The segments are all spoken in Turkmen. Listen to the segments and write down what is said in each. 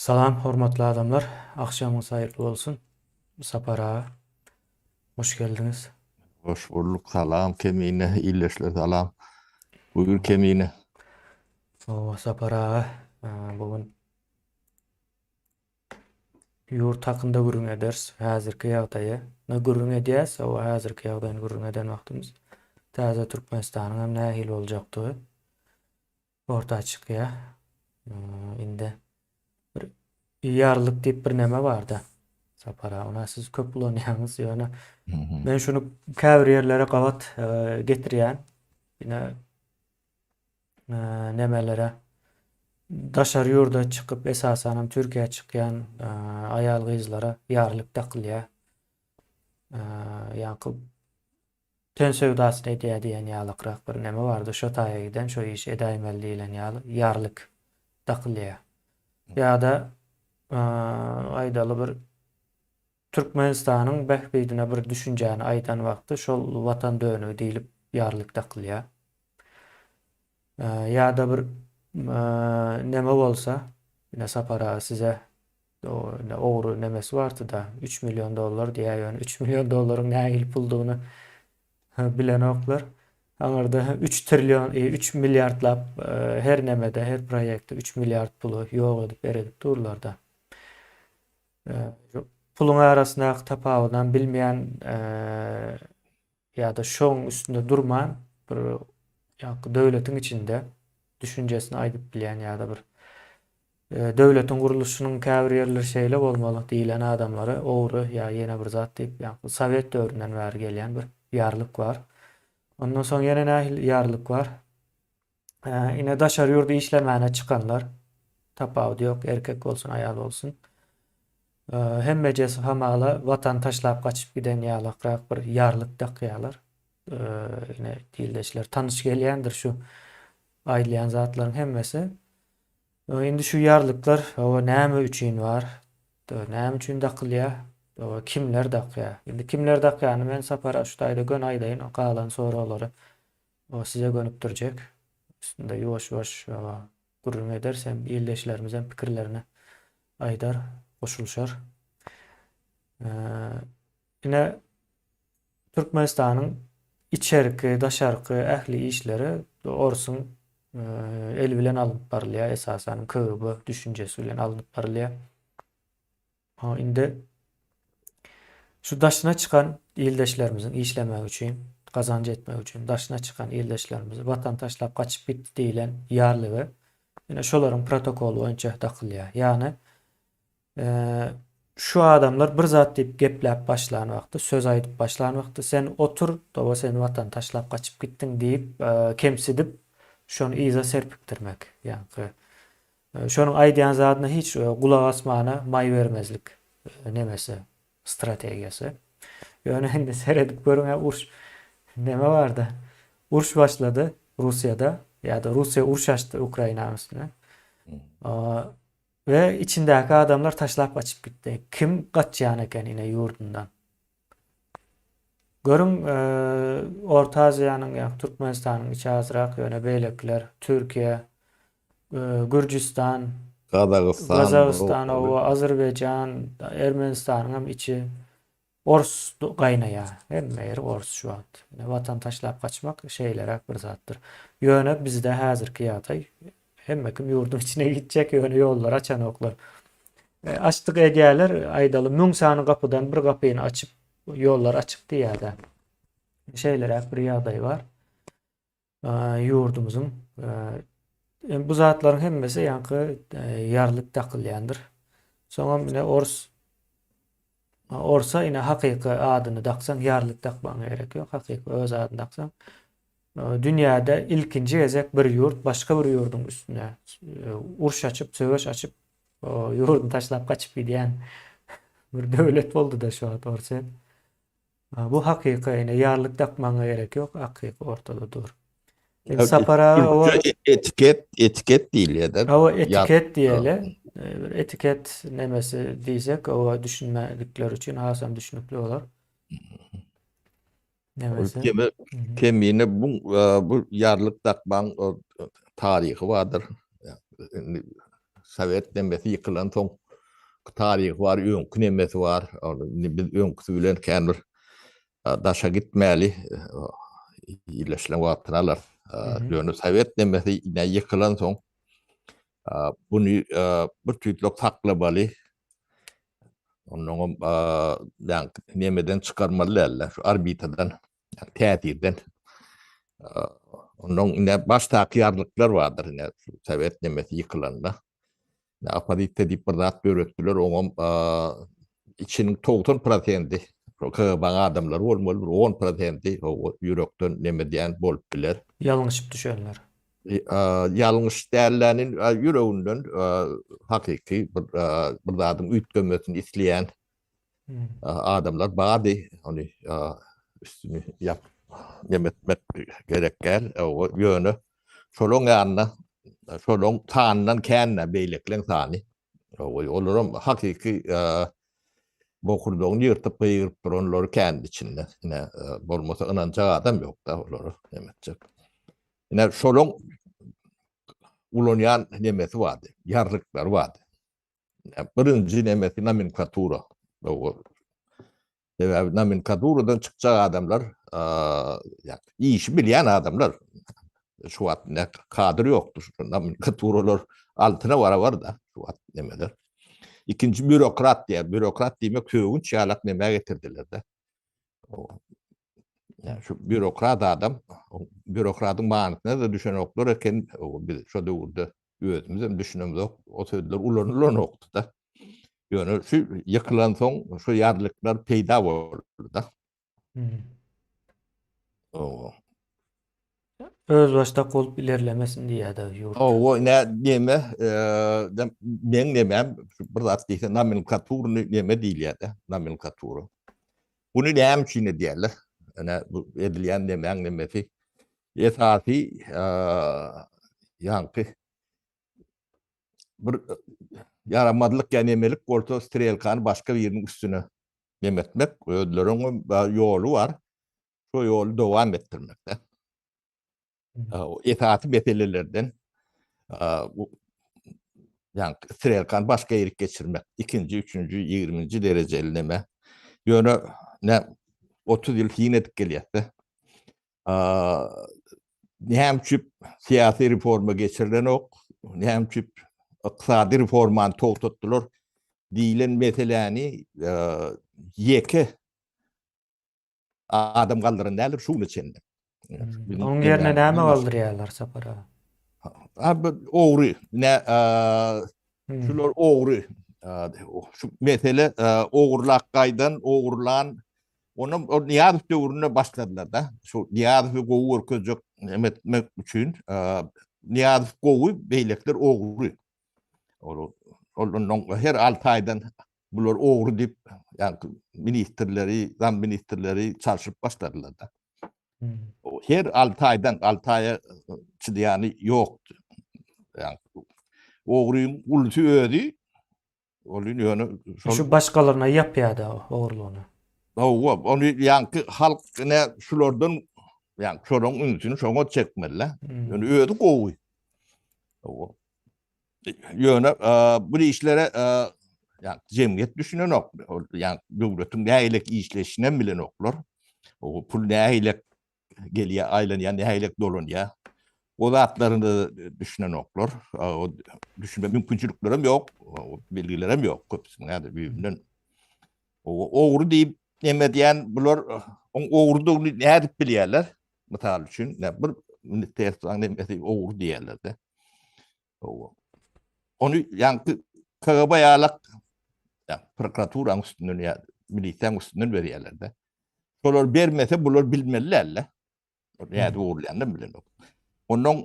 Salam hormatly adamlar agşamyňyz haýyrly bolsun Sapar aga hoş geldiňiz. Hoş bulduk salam Kemine illeşler salam Buyur Kemine. Sawa Sapar aga bu gün Ýurt hakynda gürrüň ederis, häzirki ýagdaýy, na gürrüň edýäs, hawa, häzirki ýagdaýyny gürrüň eden wagtymyz täze Türkmenistanyň hem nähili boljakdygy orta çykýar. Indi bir ýarlyk diýip bir näme bar-da, Sapar aga, ony siz köp ulanýaňyz, ýöne men şuny käbir ýerlere gabat getirýän. Ine, nämelere daşary ýurda çykyp, esasanam Türkiýä çykýan aýal-gyzlara ýarlyk dakylýar. Ýakup ten söwdasyny edýär diýen ýalykrak bir näme bardy, şo taýa giden, şo işi edäýmeli diýlen ýaly ýarlyk dakylýar. Ýa-da aýdaly bir Türkmenistanyň bähbidine bir düşünjäni aýdan wagty şol Watan dönügi diýlip ýarlyk dakylýar. Ýa-da bir neme bolsa, ine Sapar aga size ine ogry nemesi bardy-da, üç million dollar diýýär, ýöne üç million dollaryň nähili puldygyny bilenoklar. Aňyrda üç trillion, üç milliardlap her nemede, her proýektde üç milliard puly ýok edip-eredip durlar-da. Puluň arasyndaky tapawudam bilmeýän ýa-da şoň üstünde durman bir ýaňky döwletiň içinde düşünjesini aýdyp bilýän ýa-da bir döwletiň gurluşynyň käbir ýerleri şeýle bolmaly diýlen adamlary ogry ýa ýene bir zat diýip ýaňky sowet döwründen bäri gelýän bir ýarlyk bar. Ondan soň ýene nähili ýarlyk bar? Ine daşary ýurda işlemäne çykanlar tapawudy ýok erkek bolsun aýal bolsun. Hemmejesi hamala watan taşlap gaçyp giden ýalakrak bir ýarlyk dakýarlar. Ine dildeşler tanyş gelýändir şu aýdylýan zatlaryň hemmesi. Indi şu ýarlyklar owa näme üçin bar? Näme üçin dakylýar? Owa kimler dakýar? Indi kimler dakýany men Sapar Aşutaýda gön aýdaýyn, galan soraglary O size gönüp durjek. Üstünde ýuwaş-ýuwaş ýa-da gürrüň ederis hem ildeşlerimiz hem pikirlerini aýdar, goşulyşar. Ine, Türkmenistanyň içerki, daşarky ähli işleri orsuň eli bilen alnyp barylýar, esasan KGB düşünjesi bilen alnyp barylýar. Indi şu daşyna çykan ildeşlerimiziň işlemegi üçin, gazanç etmegi üçin daşyna çykan ildeşlerimizi watan taşlap gaçyp gitdi diýlen ýarlygy ine şolaryň protokoly boýunça dakylýar. Ýagny şu adamlar bir zat diýip gepläp başlan wagty, söz aýdyp başlan wagty sen otur, toba sen watan taşlap gaçyp gitdiň diýip kemsidip şony yza serpikdirmek. Ýagny Şonuň aýdýan zadyna hiç gulak asmana maý bermezlik nemesi, strategiýasy. Ýöne indi seredip görüň-ä uruş neme barda? Uruş başlady Russiýada ýa-da Russiýa uruş açdy Ukrainanyň üstüne. We içindäki adamlar taşlap gaçyp gitdi. Kim gaçýan eken ine ýurdundan? Görüň, Orta Aziýanyň, ýa Türkmenistanyň içi azrak, ýöne beýlekiler, Türkiýe, Gürjüstan, Gazagystan, oba, Azerbaýjan, Ermenistanyň hem içi ors gaýnaýar. Hemme ýeri ors şu wagt. Watan taşlap gaçmak şeýleräk bir zatdyr. Ýöne bizde häzirki ýagdaý Hemme kim ýurduň içine gitjek ýöne ýollary açanoklar. Açdyk edýäler aýdaly müň sany gapydan bir gapyny açyp ýollar açyk diýýädä. Şeýleräk bir ýagdaý bar. Ýurdumyzyň bu zatlaryň hemmesi ýaňky ýarlyp dakylýandyr. Soňam ine ors Orsa ine hakyky adyny daksaň ýarlik dakmagyň gerek ýok hakyky öz adyny daksaň dünýäde ilkinji gezek bir ýurt başga bir ýurduň üstüne uruş açyp söweş açyp ýurduny taşlap gaçyp gidýän bir döwlet bolduda şu wagt orsa. Bu hakyka ene ýarlyk dakmagyňa gerek ýok akyk ortada dur. Indi Sapar aga owa etiket etiket diýilýärde. Owa etiket diýeli. Bir etiket nemesi diýsek owa düşünmedikler üçin hasam düşünikli bolar. Nemesi. Kemi kemine bu bu ýarlyk dakmaň taryhy bardyr. Sowet nemmesi ýykylan soň taryhy bar, öňki nemmesi bar. Indi biz öňküsi bilen kän bir daşa gitmäli. Ýerleşilen wagtyny alarys. Ýöne sowet nemmesi ýykylan soň buny bir tüýtlük saklamaly. Onnoňam nemmeden çykarmaly däldir. Şu orbitadan Yani täsirden ondan ine baş takyýarlyklar bardyr ine Sowet nemesi ýykylanda. Ne opozisiýa diýip bir zat döretdiler, oňam içiniň 90% KGB-niň adamlary bolmaly, bir 10% o ýürekden neme diýen bolup biler. Ýalňyşyp düşenler. Ýalňyş dälläni ýüreginden hakyky bir zadyň üýtgemesini isleýän Adamlar bardy, ony üstüni ýap, nem etmek gerek däl, ýöne şolaryň ýanyna, şolaryň sanydan kän-ä beýlekleň sany. Olaram hakyky bokurdagyny ýyrtyp gygyryp duranlary kändi içinde. Ine, bolmasa ynanjak adam ýok-da olara, nem etjek. Ine, şolaryň ulanýan nemesi bardy, ýarlyklary bardy. Birinji nemesi nomenklatura. Sebäbi nomenklaturadan çykjak adamlar, işi bilýän adamlar. Şu wagt kadr ýokdur. Nomenklaturalar altyna barabar-da şu wagt nemeler. Ikinji býurokrat diýýär. Býurokrat diýmek sögünç ýalak neme getirdiler-de. Şu býurokrat adam, býurokratyň manysyna-da düşenoklar eken biz şu döwürde. özümizem düşünemzok, o sözler ulanylanokdy-da. Ýöne şu ýykylansoň şu ýarlyklar peýda boldy-da. Owa. Özbaşdak bolup ilerlemesin diýýär-de ýurt. Owa, nä diýme, meň nemem, bir zat diýseň, nomenklaturny neme diýilýär-de, nomenklatura. Buny näme üçin edýärler? Ene, bu edilýän nemäň nemesi? Esasy ýaňky bir ýaramazlyk ýa nemelik bolsa strelkany başga biriniň üstüne nem etmek, özleriniň ýoly bar, şo ýoly dowam etdirmek. Esasy meselelerden ýaňky strelkany başga ýerik geçirmek, ikinji, üçünji, ýigriminji derejeli neme. Ýöne otuz ýyl syn edip gelýäs-de. näme üçin syýasy reforma geçirilenok, näme üçin ykdysady reformany togtatdylar diýilen meseläni ýeke adam galdyran däldir şu güne çenli. Onuň ýerine näme galdyrýarlar Sapar aga? Abi ogry, ne şular ogry. Şu mesele ogurlak gaýdan, ogurlan Onda ol Nyýazow döwründe başladylar-da. Şol Nyýazowy gowy görkezjek neme etmek üçin, Nyýazow gowy, beýlekiler ogry. Ol ondan her alty aýdan bular ogry diýip, ýagny ministrleri, zamministrleri çalşyp başladylar-da. Her alty aýdan, alty aýa çydaýany ýokdy. Ýagny ogryň ulusy özi Ol ýöne şol Şu başgalaryna ýapýada ogurlygyny. Hawa, ony ýaňky halk ine şulardan ýaňky şolaň ünsüni şoňa çekmeli. Ýöne özi gowy. Hawa. Ýöne bu işlere ýa jemgyýet düşünenok. Ýa döwletiň nähili işleşişini bilenoklar. O pul nähili gelýär, aýlanýar, nähilek dolanýar. O zatlaryna düşünenoklar. O düşünme mümkinçiliklerem ýok, bilgilerem ýok köpüsiniň häzir düýbünden. O ogry diýip neme edýän bular oň ogrudygyny nädip bilýärler? Mysal üçin, bir ministrsiň nemesi ogry diýerler-de. Owa. Ony ýaňky KGB ýalak ýa prokuraturaň üstünden ýa milisiýaň üstünden berýärler-de. Şolar bermese bular bilmeliler-le. Näde ugrulýandan bilenok. Ondan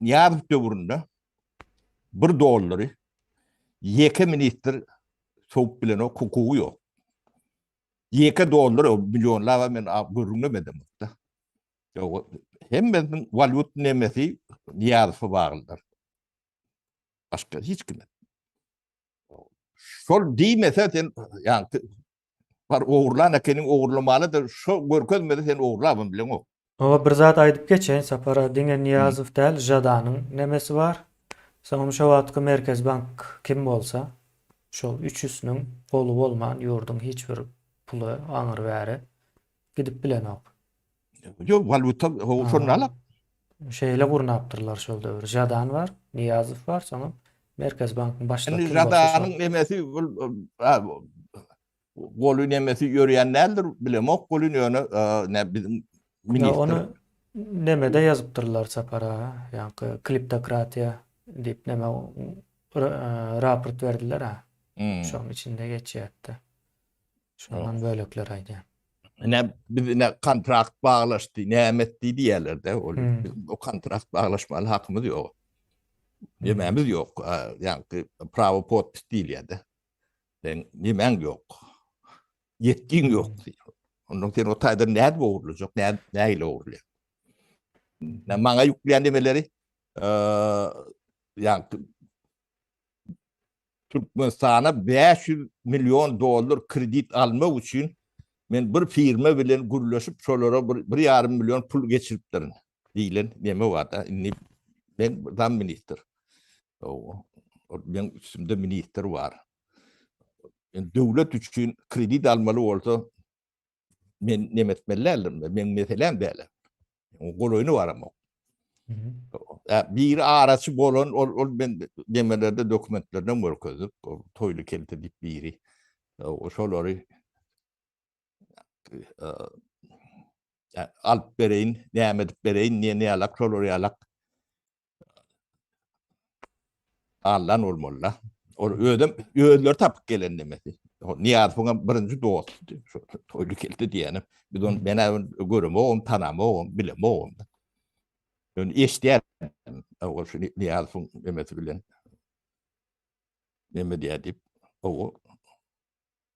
Niýazow döwründe bir dollary ýeke ministr sowup bilen o hukugy ýok. Ýeke dollar o millionlap men görünmedim da. Ýok, hemmesiniň walýut nemesi Niýazowa baglydyr. Başga hiç kime. Şol diýmese sen ýaňky bar ogurlan ekeniň ogurlamalydyr. Şo görkezmese sen ogurlabam bileňok. Oňa bir zat aýdyp geçeýin Sapara, diňe Niýazow däl, Žadanyň nemesi bar. Soňam şo wagtky Merkezi bank kim bolsa, şol üçüsiniň goly bolman ýurduň hiç bir puly aňry bäri gidip bilenok. Ýok, waluta ho şony alyp. Şeýle gurnapdyrlar şol döwür. Jadan bar, Niýazow bar, soňam Merkez bankyň başlygy. Indi Jadanyň nemesi bul goly nemesi ýörýän däldir, bilemok goly ýöne ne biziň ministr. Ony nemede ýazypdyrlar sapara, ýaňky kliptokratiýa diýip näme raport berdiler ha. Şonuň içinde geçýärdi. Şondan bölekler aýdýan. Ne biz ne kontrakt baglaşdy, näme etdi diýerlerde. Ol hmm. o kontrakt baglaşmaly hakymyz ýok. Ýememiz hmm. ýok. Ýagny prawo podpis diýilýärdi. Sen ýemäň ýok. Ýetgiň ýok hmm. diýýär. Ondan sen o taýdan näde ogurlajak, näde näle ogurlaýar. Ne maňa ýükleýän demeleri, eee, ýagny Türkmenistana bäş ýüz million dollar kredit almak üçin men bir firma bilen gürleşip, şolara bir, bir ýarym million pul geçiripdirin diýlen neme bar-da. Indi men zamministr. Owo. Meniň üstümde ministr bar. Döwlet üçin kredit almaly bolsa, Men nem etmeli däldim. Men meselem dälem. Golaýyny baramok. Biri araçy bolan, ol, ol men demelerde dokumentlerden görkezip, o toýlu kelte dip biri. O şolary alyp bereyin, näme edip bereyin, niye ne alak, şolary alak. Allan ol molla. Ol özüm özleri tapyp gelen demesi. Niýazowyň hem birinji dostudy. Şu toýly geldi diýýänim. Biz onu men hem göremogum, tanamogum, bilemogum. Ýöne eşidýärin. Ol şu Niýazowyň emesi bilen neme diýýär diýip. Ow.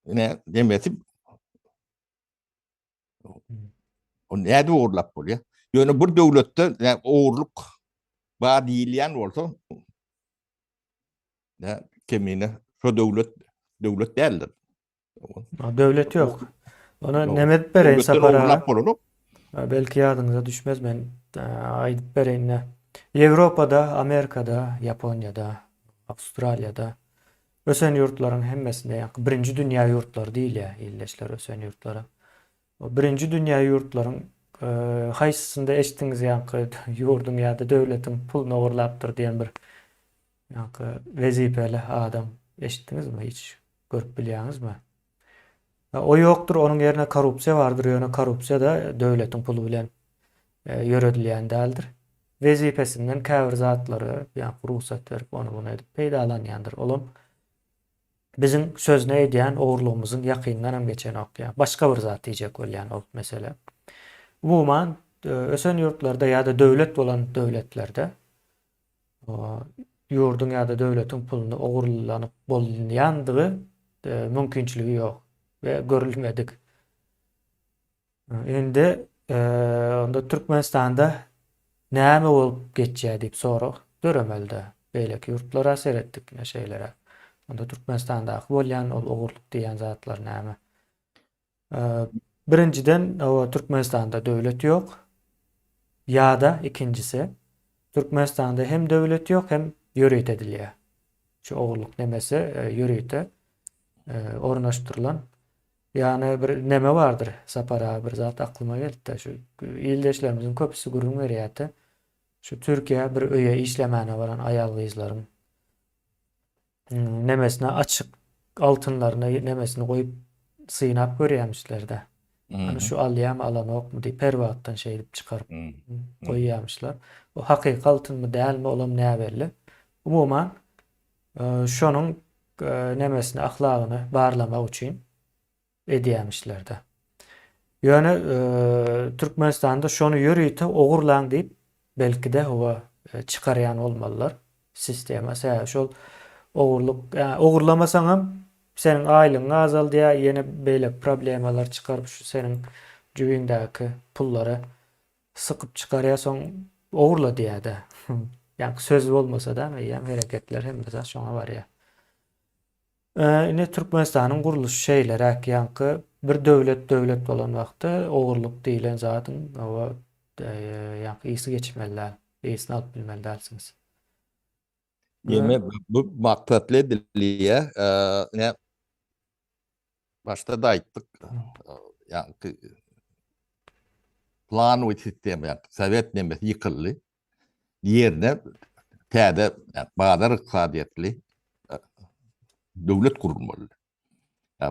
Ine demesi O näde uğurlap bolýar? Ýöne bir döwletde yani, uğurluk bar diýilýän bolsa ne kemine şu döwlet döwlet däldir. Döwlet ýok. Ona nemet bereýin sapara. Belki ýadyňyza düşmez men aýdyp bereýin. Ýewropada, Amerikada, Ýaponiýada, Awstraliýada Ösen ýurtlaryň hemmesinde ýa birinji dünýä ýurtlary diýilýär ildeşler ösen ýurtlara. O birinji dünýä ýurtlaryň haýsysynda eşitdiňiz ýaňky ýurduň ýa-da döwletiň puluny ogurlapdyr diýen bir ýaňky wezipeli adam eşitdiňizmi hiç görüp bilýäňizmi? O ýokdur, onuň ýerine korrupsiýa bardyr, ýöne korrupsiýa-da döwletiň puly bilen ýöredilýän däldir. Wezipesinden käbir zatlary, ýa rugsat berip, ony-muny edip peýdalanýandyr. Olam biziň sözüni eýdýän ogurlygymyzyň ýakynyndanam geçenok, ýa başga bir zat diýjek bolýan ol mesele. Umuman, ösen ýurtlarda ýa-da döwlet bolan döwletlerde ýurduň ýa-da döwletiň puluny ogurlanyp bolunýandygy mümkinçiligi ýok we görülmedik. Indi onda Türkmenistanda näme bolup geçýär diýip sorag döremeli-dä. Beýleki ýurtlara seretdik ine şeýleräk. Onda Türkmenistandaky bolýan ol ogurlyk diýýän zatlar näme? Birinjiden Türkmenistanda döwlet ýok ýada ikinjisi Türkmenistanda hem döwlet ýok hem ýörite edilýär. Şu ogurlyk nemesi ýörite ornaşdyrylan Ýani bir neme bardyr Sapar aga bir zat aklyma gelipdi şu ildeşlerimiziň köpüsi gürrüň berýärdi. Şu Türkiýä bir öýe işlemäne baran aýal gyzlaryň nemesine açyk altynlaryna nemesini goýup synap görýämişler-de. Ýöne şu alýamy alanokmy diýip her wagtdan şeýdip çykaryp goýýamyşlar. O hakyky altynmy dälmi olam näbelli. Umuman şonuň nemesini ahlagyny barlamak üçin edýämişler-de. Ýöne Türkmenistanda şony ýörite ogurlaň diýip, belki-de, hawa, çykarýan bolmalylar sistema. Sebäbi şol ogurlyk, ogurlamasaňam seniň aýlygyňy azaldýar, ýene beýleki problemalar çykaryp, şu seniň jübiňdäki pullary sykyp çykarýar, soň ogurla diýýär-de. Ýa söz bolmasa-da, eýýäm hereketler hemme zat şoňa barýar. Ine Türkmenistanyň gurluşy şeýleräk ýaňky bir döwlet döwlet bolan wagty ogurlyk diýilen zadyň oba ýaňky ysy geçmeli däl ysny alyp bilmeli dälsiňiz. Demek bu maksatly edilýä ine başda da aýtdyk ýaňky plan we sistema ýaňky sowet nemesi ýykyldy ýerine täze bazar ykdysadyýetli döwlet gurulmaly.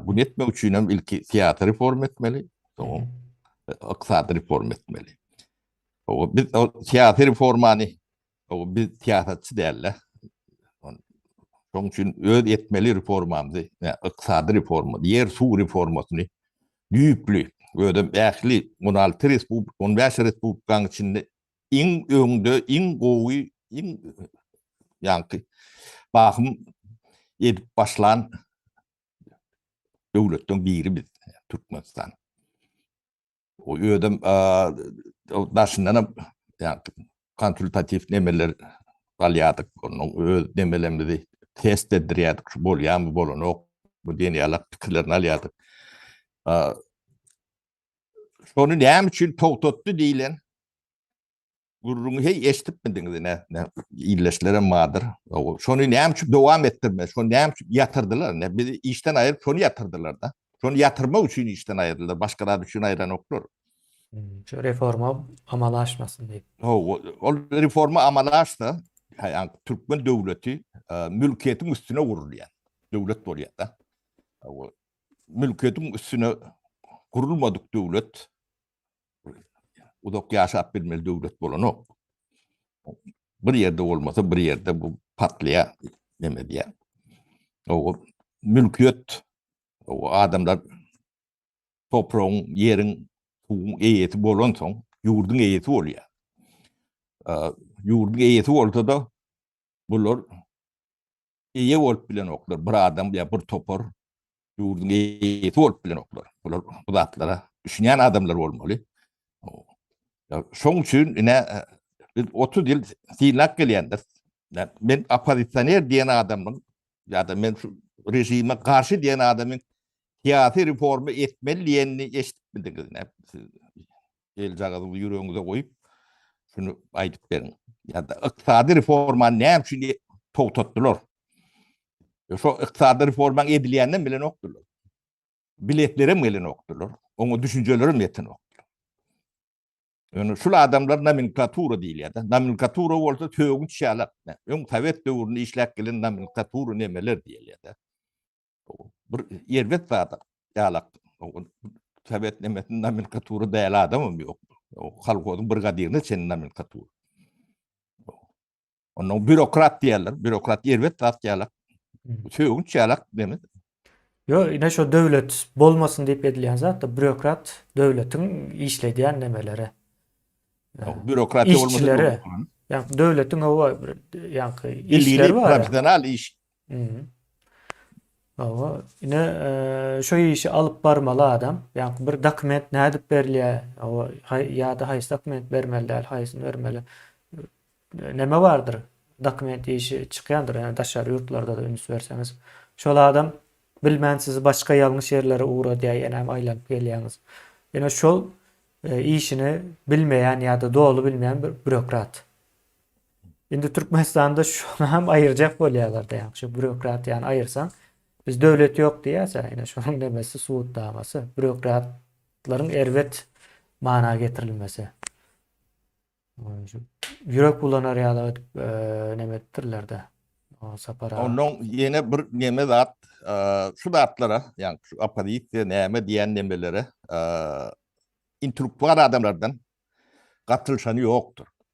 Bunu etmek üçin hem ilki syýasy reforma etmeli, soň ykdysady reforma etmeli. Biz syýasy reformany biz syýasatçy däl-de. Şonuň üçin öz etmeli reformamyzy, ykdysady reforma, ýer suw reformasyny düýpli, özem ähli on alty respublika, on bäş respublikanyň içinde iň öňde iň gowy iň ýaňky bahym edip başlan döwletden biri biz Türkmenistan. O özüm daşyndan hem ýaňky konsultatiw nemeler galýardyk. Onuň öz nemelerimizi test etdirýärdik, şu bolýarmy, bolanokmy diýen ýaly pikirlerini alýardyk. şony näme üçin togtatdy diýilen gürrüňi heý eşitipmidiňiz ne ne illeşlere madyr şony näme üçin dowam etdirme şony näme üçin ýatyrdylar ne biz işden aýyryp şony ýatyrdylar da şony ýatyrmak üçin işden aýyrdylar başga zat üçin aýranoklar şu reforma amala aşmasyn diýip ol reforma amala aşsa yani türkmen döwleti e, mülkiýetiň üstüne gurulýar döwlet bolýar da mülkediň üstüne gurulmadyk döwlet uzak ýaşap bilmeli döwlet bolanok. Bir ýerde bolmasa bir ýerde bu patlaýar, neme diýär. O mülkiýet o adamlar topragyň, ýeriň, suwuň eýesi bolansoň, ýurduň eýesi bolýar. Ýurduň eýesi bolsa-da bular eýe bolup bilenoklar. Bir adam ýa bir topar ýurduň eýesi bolup bilenoklar. Bular bu zatlara düşünýän adamlar bolmaly. Şoň üçin ine biz 30 ýyl synlap gelýändir. Men oppozisioner diýen adamyň ýa-da men şu režime garşy diýen adamyň syýasy reforma etmeli diýenini eşidip bildiňizmi? Geljagazyňyzy ýüregiňize goýup, şuny aýdyp beriň. Ýa-da ykdysady reformany näme üçin togtatdylar? Şo ykdysady reformaň edilýänini bilenokdylar. Biletler hem gelenokdylar. Oňa düşünjeler hem ýetenokdylar. Ýöne şul adamlar nomenklatura diýilýär-de. Nomenklatura bolsa sögünç ýalak. Öň sowet döwründe işläp gelen nomenklatura nemeler diýilýär-de. Bir erbet zada ýalak. Sowet nemesiniň nomenkatury däl adamam ýok. Kolhozyň brigadirine çenli nomenkatur. Ondan bürokrat diýerler. Bürokrat erbet zat ýalak. Sögünç ýalak demek. Yo, ine şu döwlet bolmasyn diýip edilýän zat da bürokrat döwletiň işledýän nemeleri. Bürokrat bolmasyn. Ýa döwletiň howa ýa işleri bar. Professional iş Hawa, ine şu işi alyp barmaly adam. Ýa bir dokument nädip berilýär? Hawa, ýa-da haýsy dokument bermeli däl, haýsyny bermeli? Näme bardyr? Dokument işi çykýandyr, ýa daşary ýurtlarda-da üns berseňiz. Şol adam bilmän sizi başga ýalňyş ýerlere ugradýar, ýenem aýlanyp gelýäňiz. Ine şol işini bilmeýän ýa-da doly bilmeýän bir býurokrat. Indi Türkmenistanda şony hem aýyrjak bolýarlar-da, ýagny şu býurokratiýany aýyrsaň, biz döwlet ýok diýýäs, ýa-da şonuň nemesi subutnamasy, býurokratlaryň erbet mana getirilmesi. Ýürek bulanar ýaly edip e, neme etdirler-de. Sapara. Ondan ýene bir neme zat, e, şu zatlara, ýagny şu oppozisiýa näme diýen nemelere, e, intellektual adamlardan gatylşany ýokdur.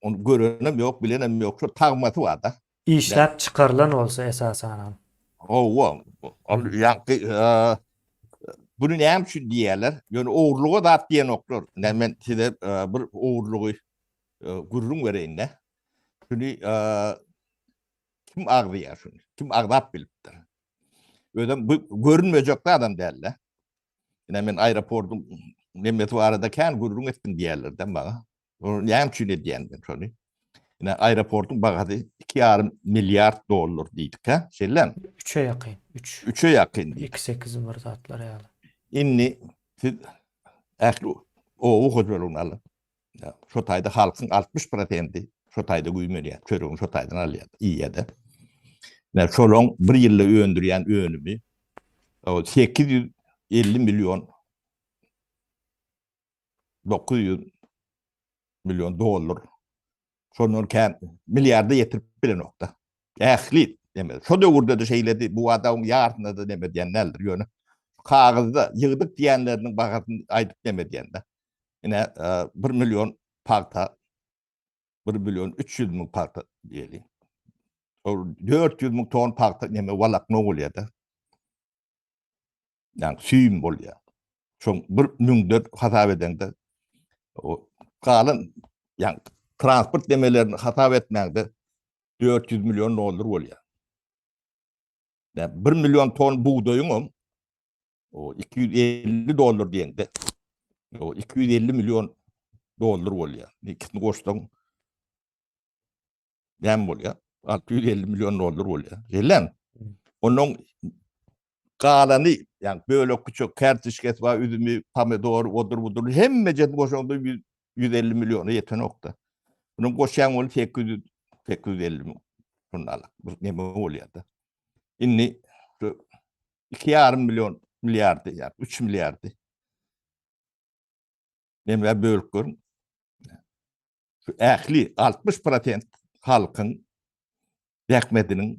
Onu görenem yok, bilenem yok. Şu tagmasy var da. İşläp çykarylan bolsa esasanam. Owa. Ol ýaňky e, bunu näme üçin diýýärler? Ýöne ogurluga zat diýenoklar. Nä men size e, bir ogurlugy e, gürrüň bereýin-de. Şuny e, kim agzaýar şuny? Kim agzap bilipdir? Özem bu görünmejek adam däl-de. Ine men aeroportyň nemesi barada kän gürrüň etdim diýerlerdi maňa. Ony näme üçin edýän men şony? Ine aeroportyň bahasy 2,5 milliard dollar diýdik hä? Şeýlem? Üçe ýakyn. Üç. Üçe ýakyn. Iki sekiz bir zatlar ýaly. Indi siz ähli oba hojalygyny alyň. Şo taýda halkyň altmyş prosendi şo taýda güýmenýär, çöregini şo taýdan alýar, iýýär-de. Ine, şolaň bir ýylda öndürýän önümi sekiz ýüz elli million, dokuz ýüz million dollar. Şondan kän milliarda ýetirip bilenok-da. Ähli deme. Şo döwürde-de şeýledi, bu adamyň ýarsyna-da deme diýen däldir, ýöne kagyzda ýygdyk diýenleriniň bahasyny aýdyp deme diýen-de. Ine, bir million pagta, bir million üç ýüz müň pagta diýeli. Ol dört ýüz müň ton pagta neme walakma bolýar-da. Yani süýüm bolýar. Şoň bir müňden hasap edeňde, o galan, yani transport nemelerini hasap etmäňde, dört ýüz million dollar bolýar. Yani bir million ton bugdaýyňam, o 250 dollar diýende o 250 million dollar bolýar. Ikisini goşsaň näme bolýar? 650 million dollar bolýar. Gelen. Onuň galany, ýagny bölek küçük kartişkesi bar, üzümi, pomidor, odur budur hemme jet goşanda 150 milliona ýetenokda. Onuň goşýan bolup 800 850 million. Şunda alak. Bu näme bolýar-da? Indi iki ýarym million milliardy ýa üç milliardy emgä bölüp görüň. Şu ähli 60% halkyň zähmetiniň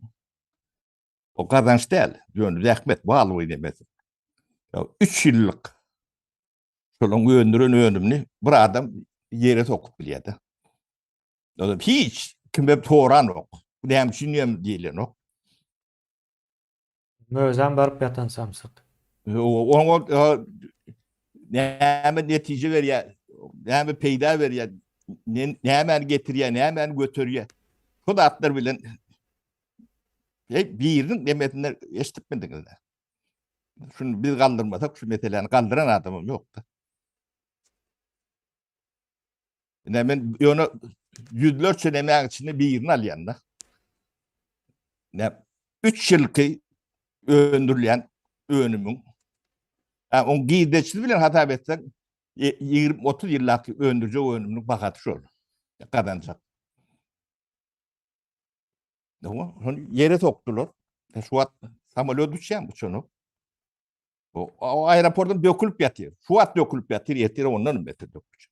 o gazanç däl, ýöne zähmet bal boýun emesi. Ýa 3 ýyllyk şolaryň öndüren önümini bir adam ýere sokup bilýär-de. Ýa hiç kime soranok. Näme üçin ýem diýilenok. Özem baryp ýatan samsyk. Oňa näme netije berýär, näme peýda berýär, nämäni getirýär, nämäni göterýär. Şol atlar bilen Hey, biriniň demesinde eşitip bildiňiz. Şunu biz galdyrmasak, şu meseleni galdyran adamym ýokda. Ne men ýöne ýüzlerçe nemäň içinde birini alýan-da. Ne 3 ýylky öndürilýän önümiň ha on girdeçli bilen hasap etseň 20-30 e, ýyllap öndürjek önüminiň bahasy şol. Gazanjak. Dogma, hon ýere sokdular. E, şu wagt samolyot uçýan bu çonu. O aeroportdan dökülip ýatyr. Şu wagt dökülip ýatyr, ýetir ondan beter dökülip.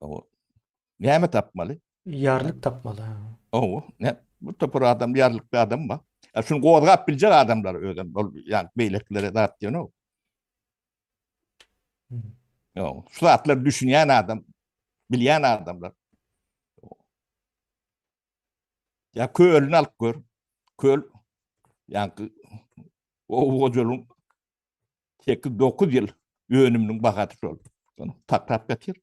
Owo. Näme tapmaly? Ýarlyk tapmaly. Owo. Ne? Bu topar adam ýarlykly adam ba. E, şuny gozgap biljek adamlar özüm. Ol ýa beýlekilere zat diýen o. Owo. Şu zatlar düşünýän adam, bilýän adamlar. Ýa kölüni alyp gör. Köl ýa owo joluň sekiz dokuz ýyl önüminiň bahasy şol. Takrap getir.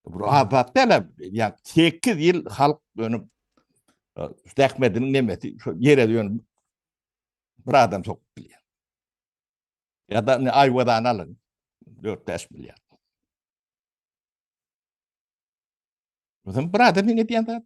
Bu azat dälem. Ýa 8 ýyl halk önüm zähmetiniň nemesi şu ýere dönüp bir adam sokup bilýär. Ya da ne ayvadan alın. 4-5 milyar. Bizim bir adam ne diyen de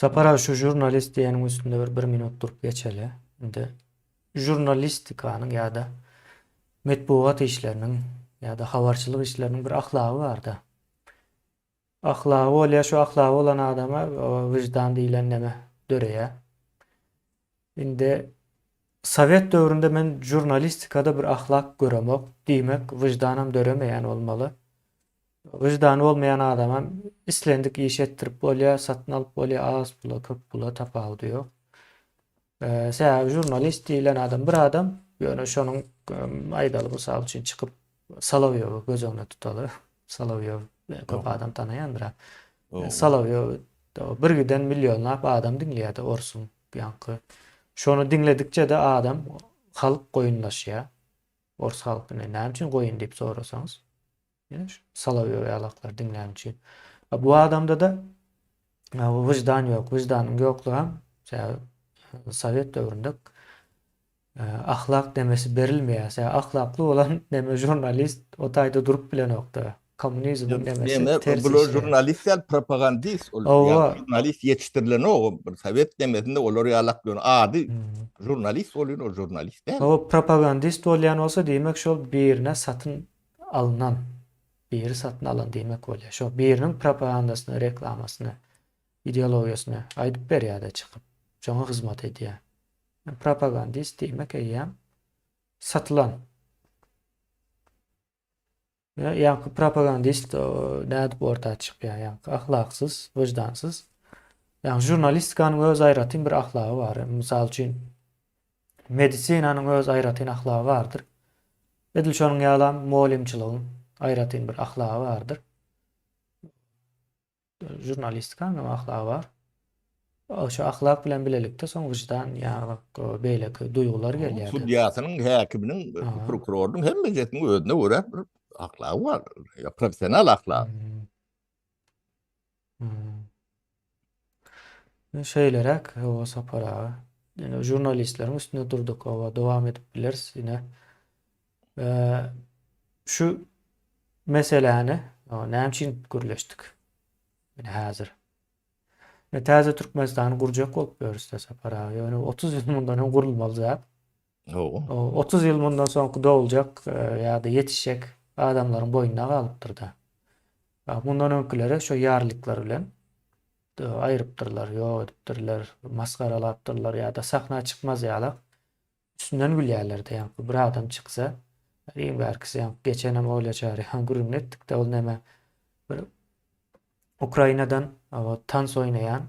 Sapar aga şu jurnalist diýeniň üstünde bir bir minut durup geçeli. Indi jurnalistikanyň ýa-da metbugat işleriniň ýa-da habarçylyk işleriniň bir ahlagy bar-da. Ahlagy bolýar, şu ahlagy bolan adama wyždan diýlen neme döreýär. Indi Sowet döwründe men žurnalistikada bir ahlak göremok, diýmek, wyždanam döremeýän bolmaly. Wyždany bolmaýan adamam islendik işi etdirip bolýar, satyn alyp bolýar, az pula, köp pula tapawudy ýok. Sebäbi žurnalist diýlen adam bir adam, ýöne şonuň aýdaly mysal üçin çykyp Solowýowy göz öňüne tutaly. Solowýow köp adam tanaýandyr-a. Solowýowy birgiden millionlap adam diňleýär-de orsuň ýaňky. Şony diňledikçe-de adam, halk goýunlaşýar. Ors halky näme üçin goýun diýip sorasaňyz, Solowýow ýalaklary diňlän üçin. A bu adamda-da wyždan ýok. Wyždanyň ýoklugam sebäbi sowet döwründe Ahlak nemesi berilmeýä se ahlakly bolan neme žurnalist o taýda durup bilenokda kommunizmiň nemesi ters işleýä. Bular žurnalist däl propagandist ol ýaly žurnalist ýetişdirilenok o bir sowet nemesinde olar ýaly aklyon ady žurnalist bolýan ol žurnalist däl. O propagandist bolýan bolsa diýmek şol birine satyn alnan biri satyn alan diýmek bolýa şo biriniň propagandasyny reklamasyny ideologiýasyny aýdyp berýäde çykyp şoňa hyzmat edýä. Men propagandist diýmek eýýäm satylan. Ýa ýaňky propagandist nädip orta çykýar ýaňky ahlaksyz, wyždansyz. Ýaňky žurnalistikanyň öz aýratyn bir ahlagy bar. Mysal üçin medisinanyň öz aýratyn ahlagy bardyr. Edil şonuň ýalam mugallymçylygyň aýratyn bir ahlagy bardyr. Žurnalistika onuň ahlagy bar. Şu ahlak bilen bilelikde soň wyždan ýa-da beýleki duýgular gelýär. Sudýasynyň, häkiminiň, prokurorynyň hemmesiniň özüne görä bir ahlagy bar. Professional ahlak. Şeýleräk hawa Sapar aga. Ýene žurnalistleriň üstünde durduk. Hawa dowam edip bileris ýene. Şu meseläni näme üçin gürleşdik? Ine häzir. Ine täze Türkmenistany gurjak bolup ýörüs da Sapar aga. Ýöne 30 ýyl mundan öň gurulmaly zat. Hawa. 30 ýyl mundan soňky doguljak ýa-da ýetişjek adamlaryň boýnuna galypdyr-da. Mundan öňküleri şu ýarlyklar bilen aýrypdyrlar, ýok edipdirler, masgaralapdyrlar ýa-da sahna çykmaz ýalak. Üstünden gülýärler-de, ýaňky bir adam çyksa, iň bärkisi, ýaňky geçenem oýlajar, ýa gürrüňini etdik-de, ol näme, bir Ukrainadan tans oýnaýan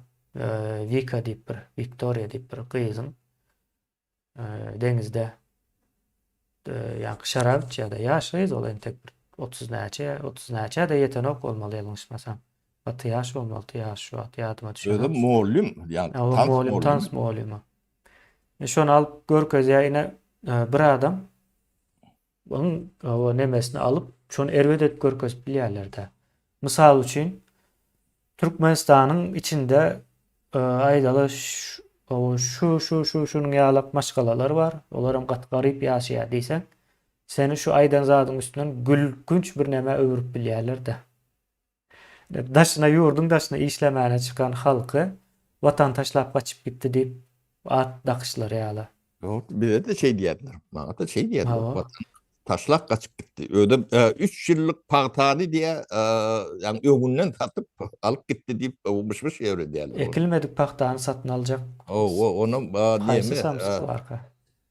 Wika diýip bir, Wiktoriýa diýip bir gyzyň deňizde ýaňky şarap içýär-de, ýaş gyz ol, entek bir otuz näçe, otuz näçä-de ýetenok bolmaly, ýalňyşmasam. Gaty ýaş bolmalydy, ýaşy şu wagt ýadyma düşenok. Özem mugallym, ýaňky tans mugallymymy? Tans mugallymymy? Şony alyp görkezýär ine bir adam onuň o nemesini alyp şony erbet edip görkezip bilýärlerde. Mysal üçin Türkmenistanyň içinde aýdaly şu şu şu şunuň ýalak maşgalalar bar. Olar hem gaty garyp ýaşaýar diýseň. Seni şu aýdan zadyň üstünden gülkünç bir nämä öwürip bilýärlerde. Daşyna ýurduň daşyna işlemäne çykan halky Watan taşlap gaçyp gitdi diýip at dakyşlary ýaly. Ýok, bize-de şeý diýerler. Maňa-da şeý diýerler. Watan taşlap gaçyp gitdi. Özem üç ýyllyk pagtany diýe, ýagny öňünden satyp alyp gitdi diýip myş-myş ýöredýärler. Ekilmedik pagtany satyn aljak. Haýsy samsyk barka?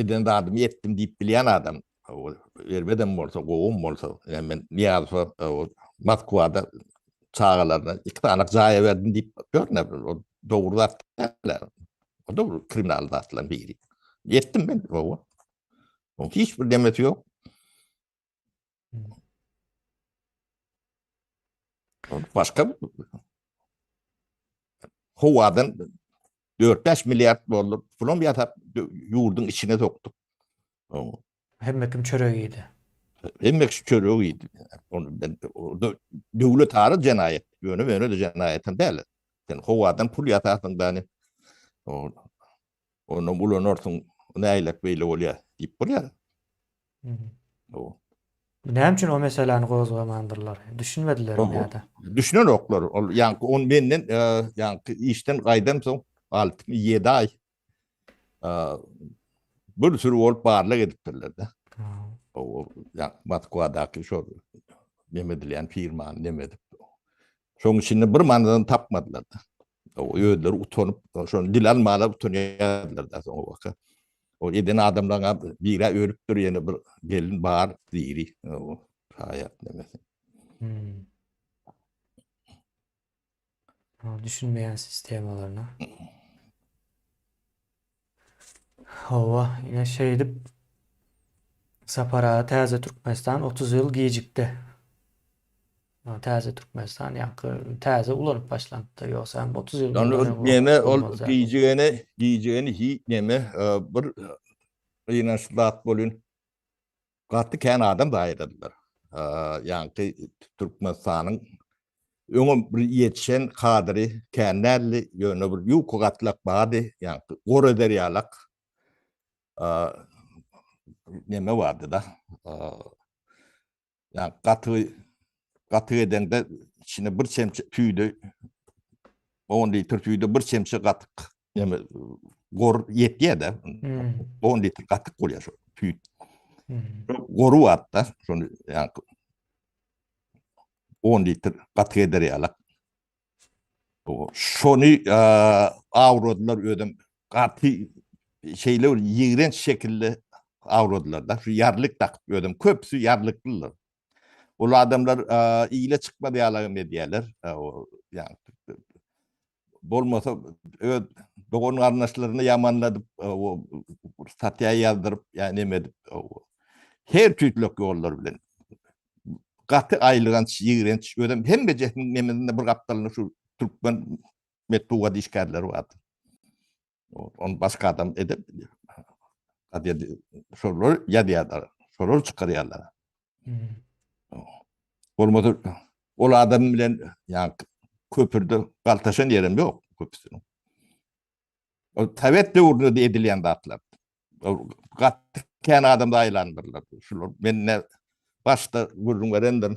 Eden zadymy etdim diýip bilýän adam, erbedem bolsa, gowum bolsa, ýa men Nyýazowa Moskwada çagalaryna iki sany jaý berdim diýip görne, ol dogry zat däl. O da kriminal zatlaryň biri. Etdim men, gowy. Oň hiç bir demesi ýok. Başka howadan 4-5 milliard dollar pulum ýasap ýurduň içine sokduk. Hemme kim çörek ýedi. Hemme kim çörek ýedi. Onu ben orada döwlet ara jenaýat, ýöne ýöne de jenaýat hem däl. Sen howadan pul ýasasyň dany. Onam ulanarsyň, näýlek beýle bolýar diýip bolýar. Ow. Näme üçin o meseläni gozgamandyrlar? Düşünmedilermi ýa-da? Düşünenoklar. Ol ýaňky on menden ýaňky işden gaýdam soň alty mi ýedi aý bir sürü bolup barlag edipdirler-de. Ow, ýa Moskwadaky şo neme edilýän firmany neme edip. Şoň içinde bir manadan tapmadylar-da. Özleri utanyp, şony dile almaga utanýardylar-da soňabaka. O eden adamlaryň hem biri ölüpdir, ýene bir gelin bar, diri. O haýat nemesi. Hmm. Düşünmeýän sistemalaryna. Hawa, ine şeýdip Sapar aga täze Türkmenistan otuz ýyl gijikdi. Ýa täze Türkmenistan ýaňky täze ulanyp başlanypdy, ýogsa hem otuz ýyl Ýöne mundan ol öň wagt neme ol bolmaz zat ol. gijigeni, gijigeni hiç neme, e, bir gynançly zat bolýn. Gaty kän adam zaýadadylar. Ýaňky Türkmenistanyň öňem bir ýetişen kadry kän däldi, ýöne bir ýuka gatlak bardy, ýaňky goreder ýalak neme bardy-da. Ýaňky gatygy gatyk edeňde içine bir çemçe tüýde on litr tüýde bir çemçe gatyk Yani gor yetýär de. On litr gatyk bolýar şu tüýt. Goru wagtda şony yani 10 litr gatyk eder ýalak. Şony awradylar özüm gaty şeýle bir ýigrenç şekilli awradylar da. Şu ýarlyk dakyp özüm köpüsi ýarlyklylar. Ol adamlar ile çykmaz ýalagam edýärler. Yani bolmasa öz dogan garyndaşlaryny ýamanladyp statýa ýazdyryp ýa neme edip her tüýtlek ýollar bilen gaty aýylganç ýigrenç özem hemme jehniň nemesinde bir gapdalynda şu türkmen metbugat işgärleri bardy Onu başka adam edip şolar ýazýarlar. Şolar çykarýarlar. Bolmasa ol adam bilen ýa köpürde galtaşan ýerim ýok köpüsiniň. O Sowet döwründe edilýän zatlar. Gatdy kän adamda aýlandyrlar. Şular menne başda gürrüň berendim.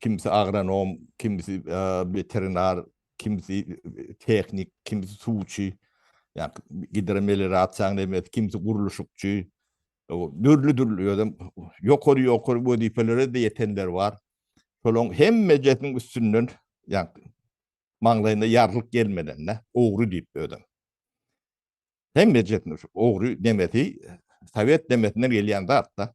Kimsi agronom, kimsi weterinar, kimsi tehnik, kimsi suwçy, ýa-ni gidromelirasiýa näme, kimsi gurluşykçy. Dürli-dürli özem ýokary-ýokary wezipelere ýetenler bar. Şolaryň hemmejesiniň üstünden, ýa-ni maňlaýyna ýarlyk gelmeden-de, ogry diýip özem. Hemmejesini şu ogry demesi, sowet demesinden gelýän zat-da.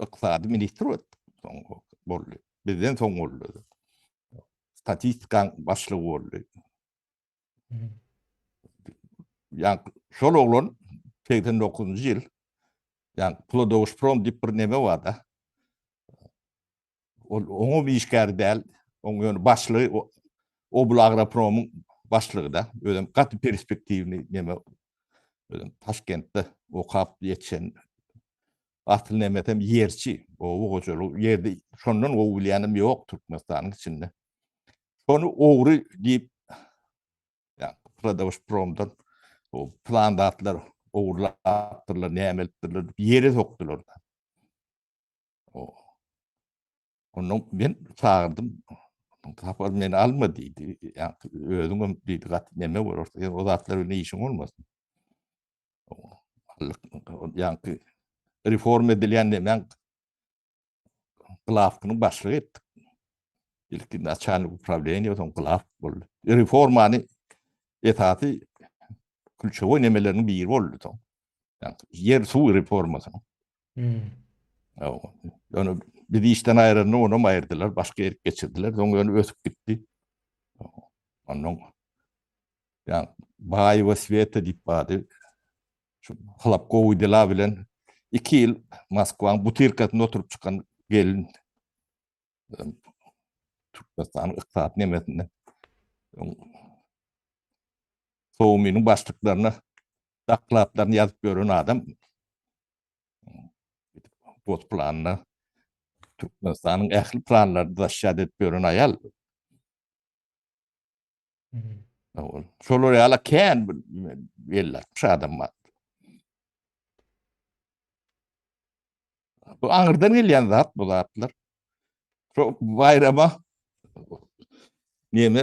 Ykdysady ministr boldy. Bizden soň boldy. Statistika başlygy boldy. Yani şol oglan 89-njy ýyl yani Plodowsprom diýip bir neme bar da. Ol oňa bir işgär däl, oň ýöne başlygy Oblagropromyň başlygy-da, özem gaty perspektiwny neme, özem Taşkentde okap ýetişen, asyl nemesem ýerçi, oba hojalygy ýerde şondan gowy bilýänem ýok Türkmenistanyň içinde. Şony ogry diýip, ýagny Prodawşpromdan plan zatlar ogurlapdyrlar, näme edipdirler diýip ýere sokdular-da. Ondan men çagyrdym. Tapar meni alma diýdi. Özüň hem diýdi gat neme bolar. Sen o zatlar bilen işiň bolmasyn. Ýa-ki reform edilýän näme? Glawkynyň başlygy etdik. Ilki naçalnik upravleniýa, soň glawk boldy. Reformany esasy külçewoý nemeleriniň biri boldy soň. Ýer suw reformasyny. Hmm. Ýöne biz işden aýranda ony hem aýyrdylar, başga ýere geçirdiler. Soň ýöne ösüp gitdi. Ondan ýa Baý we Sweta diýip bady. Şu halap gowy dila bilen 2 ýyl Moskwanyň butyrkasynda oturyp çykan gelin Türkmenistanyň ykdysady nemesinde Sowminiň başlyklaryna Dokladlaryny ýazyp ýören adam gos planyna Türkmenistanyň ähli planlaryny daşýat edip ýören aýal. Ol şolar ýala kän bir belli atmış adam bar. Bu aňyrdan gelýän zat bu zatlar. Şu baýrama neme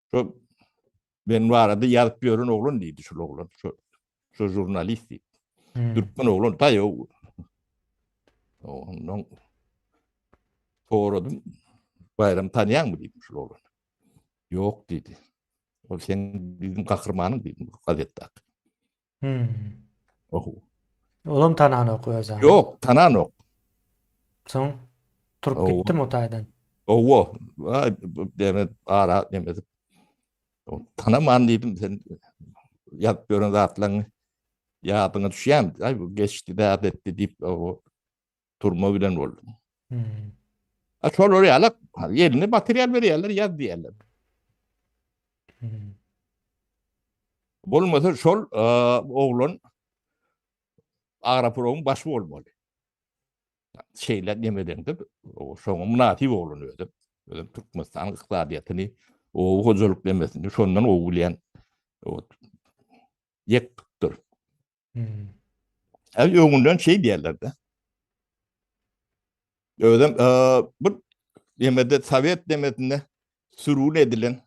Şu ben barada ýazyp ýören oglan diýdi şu oglan. Şu şu jurnalist diýip. Hmm. Türkmen oglan taýo. Ondan soradym. Bayram tanyan mı dedim şu oğlan. Yok dedi. O sen bizim kahrmanın dedim gazettak. Hmm. Oho. Olam tananok özüni. Ýok, tananok. Soň turup Owa. gitdim o taýdan. Owo, ay, bu deme ara deme. Tanaman dedim sen ýazyp gören zatlaryňy ýadyňa düşýän. Ay bu geçdi däp etdi diýip o turma giden boldum. Hmm. A şolar ýalak, eline material berýärler, ýaz diýýärler. Hmm. Bolmasa şol e, oglan Agraproň baş bolmaly. Şeýle nemeden dip, şoňa mynasyp oglan özüm. Özüm Türkmenistan ykdysadyýetini, o hojalyk nemesini şondan ow bilýän. Ýek Hal öňünden şey diýerlerde. Özüm e, bir demede Sovet demesinde sürgün edilen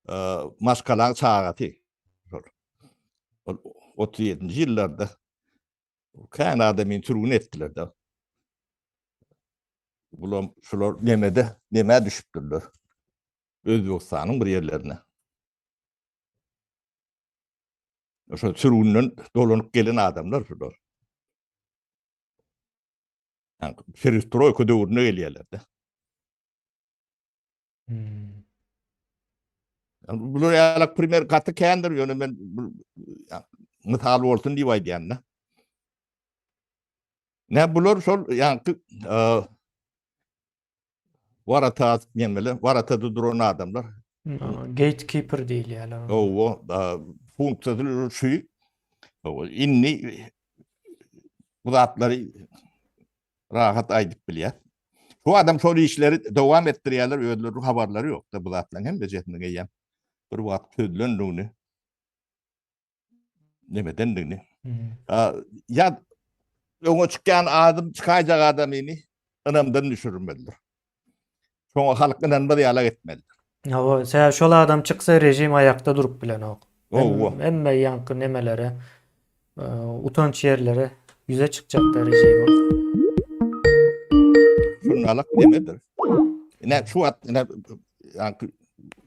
e, maşkalan çagatı. 37. ýyllarda kän adamy sürgün etdiler de. Bulam şular nemede, neme düşüpdirler. Özbekistanyň bir ýerlerine. Şo sürgünden dolanyp gelen adamlar şular. Yani perestroika döwrüne gelýärler-de. Hmm. Bular ýaly primer gaty kändir, ýöne men mysal bolsun diýip aýdýan-da. Ne bular şol ýaňky Warata nemele, warata duran adamlar. Gatekeeper diýilýärler. Owo, funksiýasy şu. Indi bu zatlary rahat aýdyp bilýär. Bu adam şol işleri dowam etdirýärler, özleriniň habarlary ýok-da bu zatlaryň hemmesini eýýäm bir wagt çözülendigini. nemedendigini. Ya öňe çykýan adam çykaýjak adamyny ynamdan düşürmelidir. Şoňa halk ynanmaz ýala etmelidir. Hawa, sebäbi şol adam çyksa rejim aýakda durup bilenok. Hawa. Hemme ýaňky nemelere, e, utanç ýerlere ýüze çykjakda rejim. Şundalyk nemedir? Ine şu wagt ine ýaňky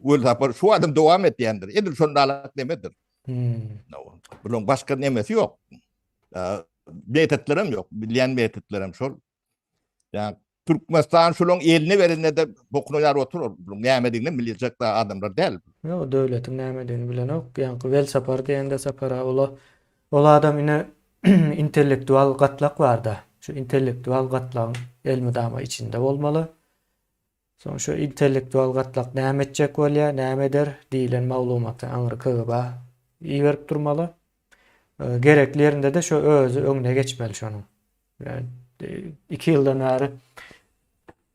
Welsapar şu adam dowam etýändir. Edil şondalyk nemedir? Bulan başga nemesi ýok. Metotlarym ýok. Bilýän metotlarym şol. Ýa Türkmenistan şolaň eline berende de bokuna ýar otur. Bulan nämedigini biljek da adamlar däl. Ýok, döwletiň nämedigini bilenok. Ýa Welsapar diýende sapara ola ol adam ine intellektual gatlak barda. Şu intellektual gatlagyň elmydama içinde bolmaly. Soň şu intellektual gatlak näme etjek bolýar, näme eder diýlen maglumaty aňry KGB-a iberip durmaly. Gerekli ýerinde-de şu özi öňüne geçmeli şonuň. Iki ýyldan bäri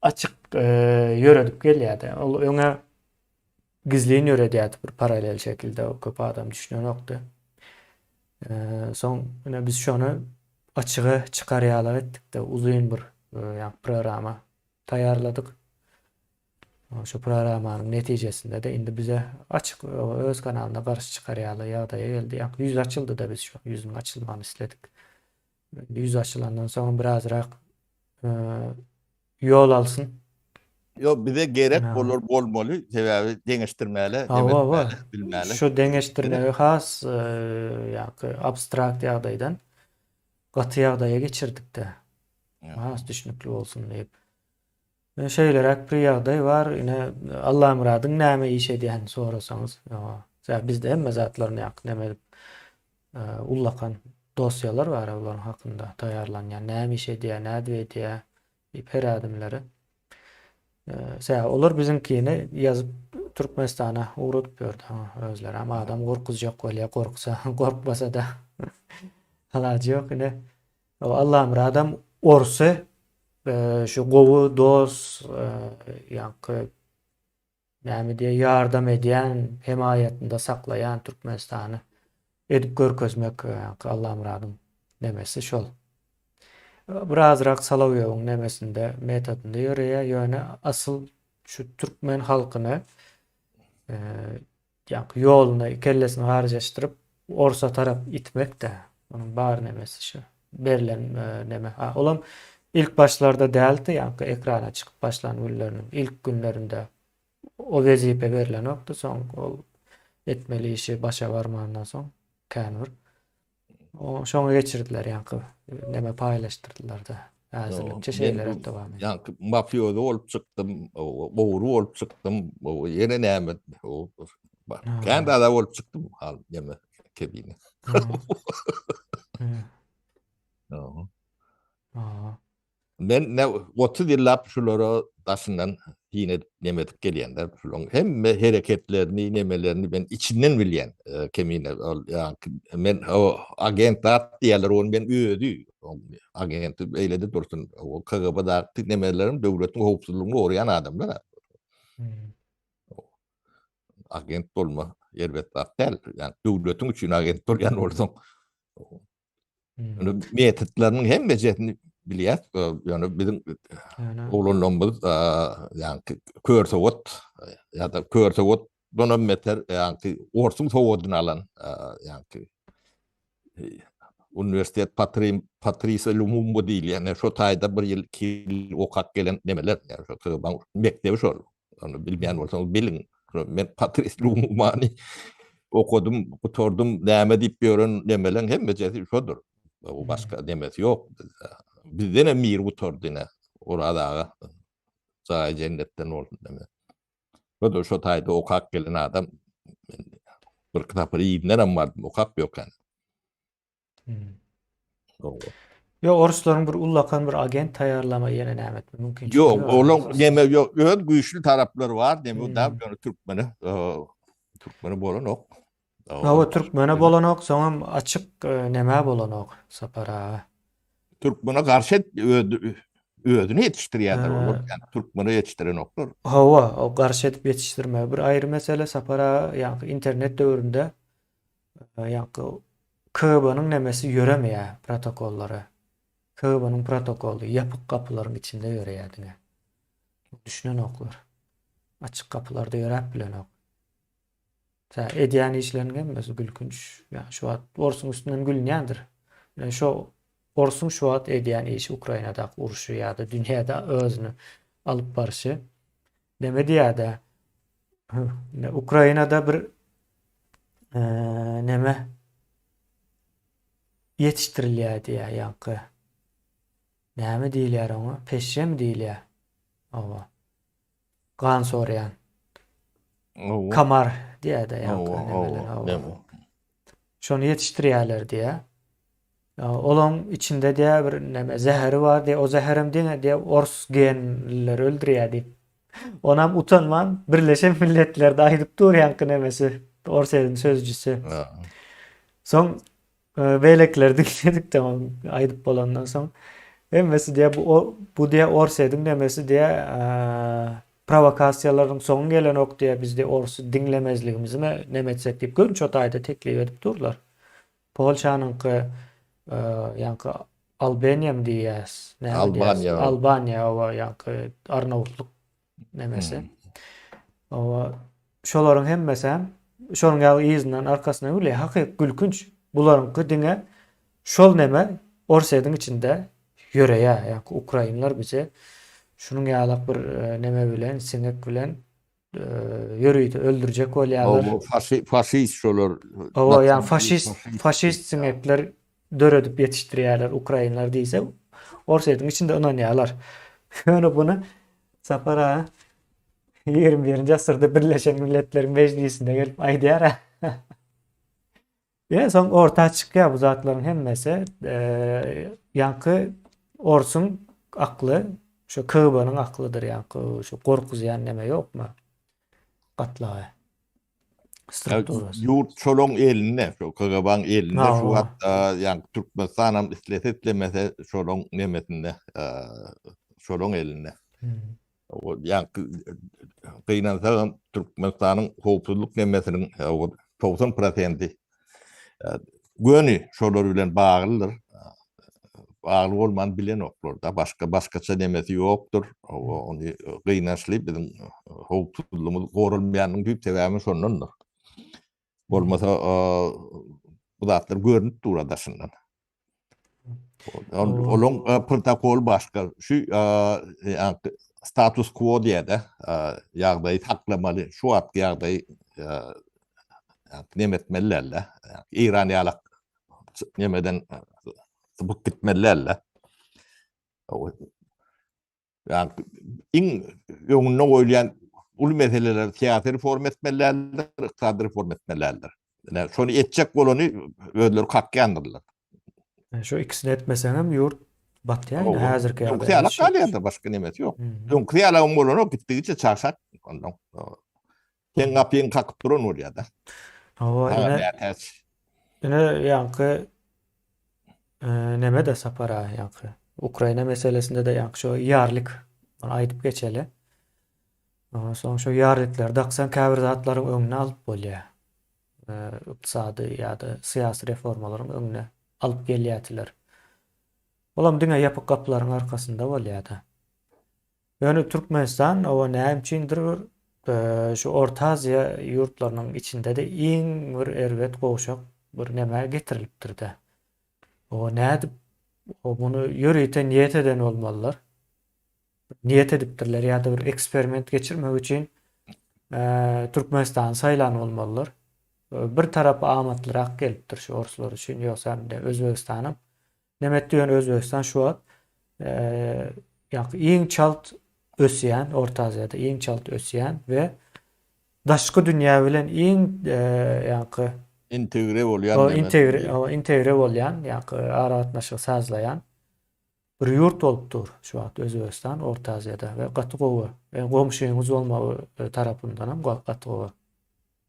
açyk ýöredip gelýär-de. Ol öňe gizlin ýöredýärdi bir paralel şekilde, köp adam düşünenokdy. Soň ine biz şony açyga çykarýarlyk etdik-de, uzyn bir programa. taýýarladyk. Şu programmanyň netijesinde-de indi bize açyk öz kanalyna garşy çykar ýaly ýagdaýa geldi. Ýa ýüz açyldy-da biz şu ýüzüň açylmagyny isledik. Indi ýüz açylandan soňam birazrak ýol alsyn. Ýok, bize gerek bolar bolmaly, sebäbi deňeşdirmäle, deňeşdirmäle, bilmäle. Şu deňeşdirmegi has ýa-da abstrakt ýagdaýdan gaty ýagdaýa geçirdik-de. Has düşnükli bolsun diýip. Ine şeýleräk bir ýagdaý bar. Ine Allamyradyň näme iş edýänini sorasaňyz, ýa bizde hemme zatlar näk neme edip ullakan dosýalar bar-a bularyň hakynda taýýarlanýan, näme iş edýär, nädip edýär diýip her ädimleri. Tä olar biziňkini ýazyp Türkmenistana ugradyp ýördi özlerem. Adam gorkuzjak bolýar, gorksa, gorkmasa-da alajy ýok. Ine Allamyradam orsy şu gowy dos ýaňky näme diýýä ýardam edýän hemaýatynda saklaýan Türkmenistany edip görkezmek ýaňky Allamyradyň nemesi şol. Birazrak Solowýowyň nemesinde metodynda ýöreýä ýöne asyl şu türkmen halkyny Janky ýoluna kellesini garjaşdyryp orsa tarap itmekdä munuň bar nemesi şu berlen neme ha olam ilk başlarda däldi janky ekrana çykyp başlan günleriniň ilk günlerinde o wezipe berlenokdy soň ol etmeli işi başa barmandan soň kän bir O şoňa geçirdiler ýaňky näme paýlaşdyrdylar-da. Häzirlikçe şeýle dowam edýär. Ýaňky mafioza bolup çykdym, gowry bolup çykdym, ýene näme kän zada bolup çykdym hal näme kebine. Men ne otuz ýyllap şulara daşyndan syn edip neme edip gelýän-de, şularyň hemme hereketlerini, nemelerini men içinden bilýän, Kemine ol ýaňky men o agent zat diýýärler, ony men özi agenti beýlede dursun, o KGB-daky nemelerem döwletiň howpsuzlygyny goraýan adamlar-a. Agent bolma erbet zat däl, ýa döwletiň üçin agent bolýan bolsaň, Ýöne metodlarynyň hemmejesini bilýär. Ýöne biziň oglanlarymyz ýa-da kör sowat ýa-da kör sowat Dona meter ýa-da orsuň sowadyny alan ýa-da uniwersitet patrim patrisa lumumbo diýilýän şu taýda bir ýyl iki ýyl okap gelen nemeler ýa-da mekdebi şol Onu bilmeýän bolsaňyz biliň. Men Patrice Lumumany okudym, gutardym, näme diýip ýören nemeleň hemmejesi şodur. Bu başga demesi ýok bizde. Bizden hem mir gutardy ine. Oraz aga. Jaýy jennetden bolsun deme. Şodur şu taýda okap gelen adam. Bir kitapy ýerinden hem bardym, okap ýokan. Gowy. Ýok, oruslaryň bir ullakan bir agent taýýarlama ýene näme etme mümkinçiligi Ýok, bar. olaň näme ýok, öz güýçli taraplary bar, näme Hmm. däl, ýöne türkmene, eee, türkmene bolanok. Hawa, türkmene bolanok, soňam açyk e, nämä bolanok Sapar aga. Türkmene garşy et- öz- özüni ýetişdirýärler Ha. olar, ýani türkmene ýetişdirenoklar. Hawa, o garşy edip ýetişdirme. Bir aýry mesele Sapar aga, ýaňky internet döwründe Ýaňky KGB-nyň nemesi ýöremeýär protokollary. KGB-nyň protokoly ýapyk gapylaryň içinde ýöreýär diňe. Düşünenoklar. Açyk gapylarda ýöräp bilenok. Tä edýän işleriniň hemmesi gülkünç. Ýa şu wagt orsuň üstünden gülünýändir. Ýa şu orsuň şu wagt edýän işi Ukrainadaky urşy ýa-da dünýäde özüni alyp barşy. Neme diýýäda? Ukrainada bir neme ýetişdirilýär diýýär ýaňky. Näme diýilýär oňa? Peşem diýilýär. Owa. Gan sorýan. Kamar diýýär-de ýaňky. Owa, owa. şony ýetişdirýärler diýýä. Olaň içinde diýýä bir näme zäheri bar diýýä. O zäherem diňe diýýä ors genlileri öldürýär diýip. Onam utanman Birleşen Milletlerde aýdyp dur ýaňky nämesi Orsýetiň sözüjisi. Soň e, beýlekiler diňledikde aýdyp bolandan soň hemmesi diýýä bu bu diýýä Orsýetiň nämesi diýýä e, Prowokasiýalaryň soňy gelenok diýe bizde orsy diňlemezligimizi me nem etsek diýip gör nçe taýda teklip edip durlar. Polşanyňky ýaňky Albeniýam diýýäs näme diýýäs Albaniýa oba ýaňky Arnawutlyk nemesi. Oba Şolaryň hemmesem şonuň ýaly yzyndan arkasyna gülýä hakyk gülkünç bularyňky diňe şol neme orsýediň içinde ýöreýä ýaňky ukrainler bije şunuň ýalak bir neme bilen siňek bilen ýörite öldürjek bolýalar. Hawa faşist şolar. Hawa ýaňy faşist faşist siňekler döredip ýetişdirýärler ukrainler diýse Orsýetiň içinde ynanýarlar. Ýöne bunu Sapar aga 21-nji asyrda Birleşen Milletler Mejlisinde gelip aýdýar. Ýa soň orta çykýar bu zatlaryň hemmesi. Ýaňky Orsuň akly şu KGB-nyň aklydyr ýaňky şu gorkuzýan neme ýokmy? Gatlagy. strukturasy. Ýurt şolaň elinde, şu KGB-niň elinde şu wagt, ýa Türkmenistan hem islese islemese şolaň nemesinde, şolaň elinde. Ýa gynansa hem Türkmenistanyň howpsuzlyk nemesiniň 90 prosenti göni şolar bilen baglydyr. Bagly bolman bilenoklar-da, başga başgaça nemesi ýokdur. Ony gynançly biziň howpsuzlygymyz goralmaýanyň düýp sebäbi şondandyr. Bolmasa bu zatlar görnüp dur daşyndan. Olaň protokoly başga. Şu status quo diýýär-de, ýagdaýy saklamaly, şu wagtky ýagdaýy nem etmeli däldir. Eýran ýaly nemeden sypyp gitmeli däldir. Yani iň öňünde goýulýan uly meseleler syýasy reforma etmelidirler, ykdysady reforma etmelidirler. Yani şony etjek bolany özleri kakýandyrlar. Şu ikisini etmeseňem ýurt batýar indi häzirki ýagdaýda. Öňki ýala galýar-da başga nemesi ýok. Öňki ýala bolany gitdigiçe çagşat ondan. Seň gapyňy kakyp duran bolýar-da. Hawa, ine. Ine, ýaňky neme-de Sapar aga, ýaňky Ukraina meselesinde-de ýaňky şo ýarlik, ony aýdyp geçeli. Ondan soň şo ýarlikleri daksaň, käbir zatlaryň öňüni alyp bolýar. Ykdysady ýa-da syýasy reformalaryň öňüni alyp gelýärdiler. Olam diňe ýapyk gapylaryň arkasynda bolýar-da. Ýöne Türkmenistan oba näme üçindir bir şu Orta Aziýa ýurtlarynyň içinde-de iň bir erbet gowşak bir nämä getirilipdir-dä. Oba nädip o muny ýörite niýet eden bolmalylar. Niýet edipdirler ýa-da bir eksperiment geçirmek üçin Türkmenistany saýlan bolmalylar. Bir tarapy amatlyrak gelipdir şu orslar üçin ýogsa Özbegistanam Näme etdi ýöne Özbegistan şu wagt iň çalt ösýän, Orta Aziýada iň çalt ösýän we daşky dünýä bilen iň ýaňky integre bolýan diýmek. Integre bolýan, ýaňky aragatnaşygy sazlaýan bir ýurt bolup dur şu wagt Özbegistan Orta Aziýada we gaty gowy. Goňşyňyz bolmagy tarapyndanam gaty gowy.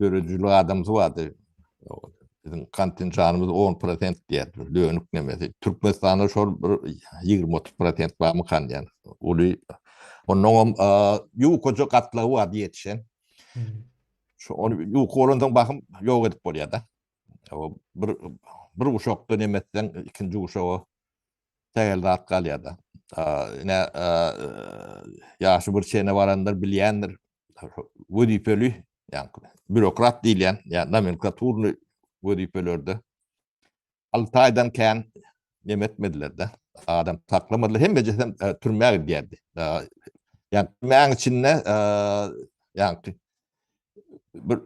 Döredijilik adamsy bardy. Biziň kontinjanymyz 10 prosent diýýär, dönük nemesi. Türkmenistanda şol bir 20-30 prosent barmykan diýýän. Uly, ondan hem ýukaja gatlagy bardy ýetişen. Şu ony ýuka bolandan bahym ýok edip bolýar-da. Bir bir guşakda nemesden ikinji guşaga tägel zat galýar-da. Ine, ýaşy bir çene baranlar bilýändir, wezipeli, ýagny býurokrat diýilýän, ýa nomenklaturny wezipelerde alty aýdan kän neme etmediler-de, adam saklamadylar, hemmejesi hem türmä gidýärdi. Ýagny türmäň içinde ýagny bir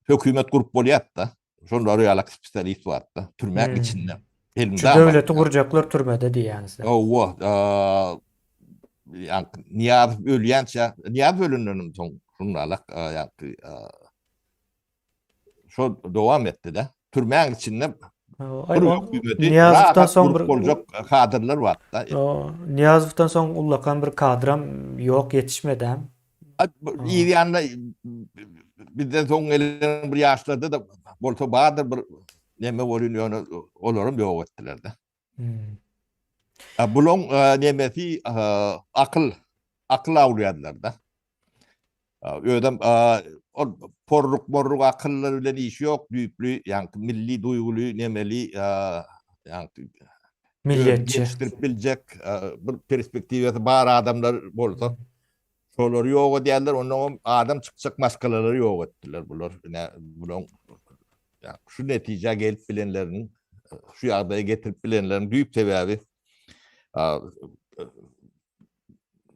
hökümet gurup bolýar-da, Şonda realak spesialist bardy. Türme hmm. içinde. Şu döwleti gurjaklar türmede diýýäňizler. Owa, ýa Niýaz ölýänçä, Niýaz ölenden soň şundalak ýa şo dowam etdi de. Türmäň içinde Niyazovdan soň bir boljak kadrlar barda. Niyazovdan soň ullakan bir kadram yok yetişmedi hem. Yz ýanynda bizden soň gelen bir ýaşlarda-da bolsa bardyr bir näme bolýan ýöne olaram ýok etdiler-de. Bulaň nemesi akyl, akyl awlaýarlar-da. Özem ol porruk-morruk akyllar bilen işi ýok, düýpli, ýagny milli duýguly, nemeli, ýagny milliýetçi biljek bir perspektiwasy bar adamlar bolsa, Şolary ýok edýärler, ondan hem adam çykjak maskalalary ýok etdiler bular. Ine, bularyň şu netijä gelip bilenleriniň, şu ýagdaýa getirip bilenleriniň düýp sebäbi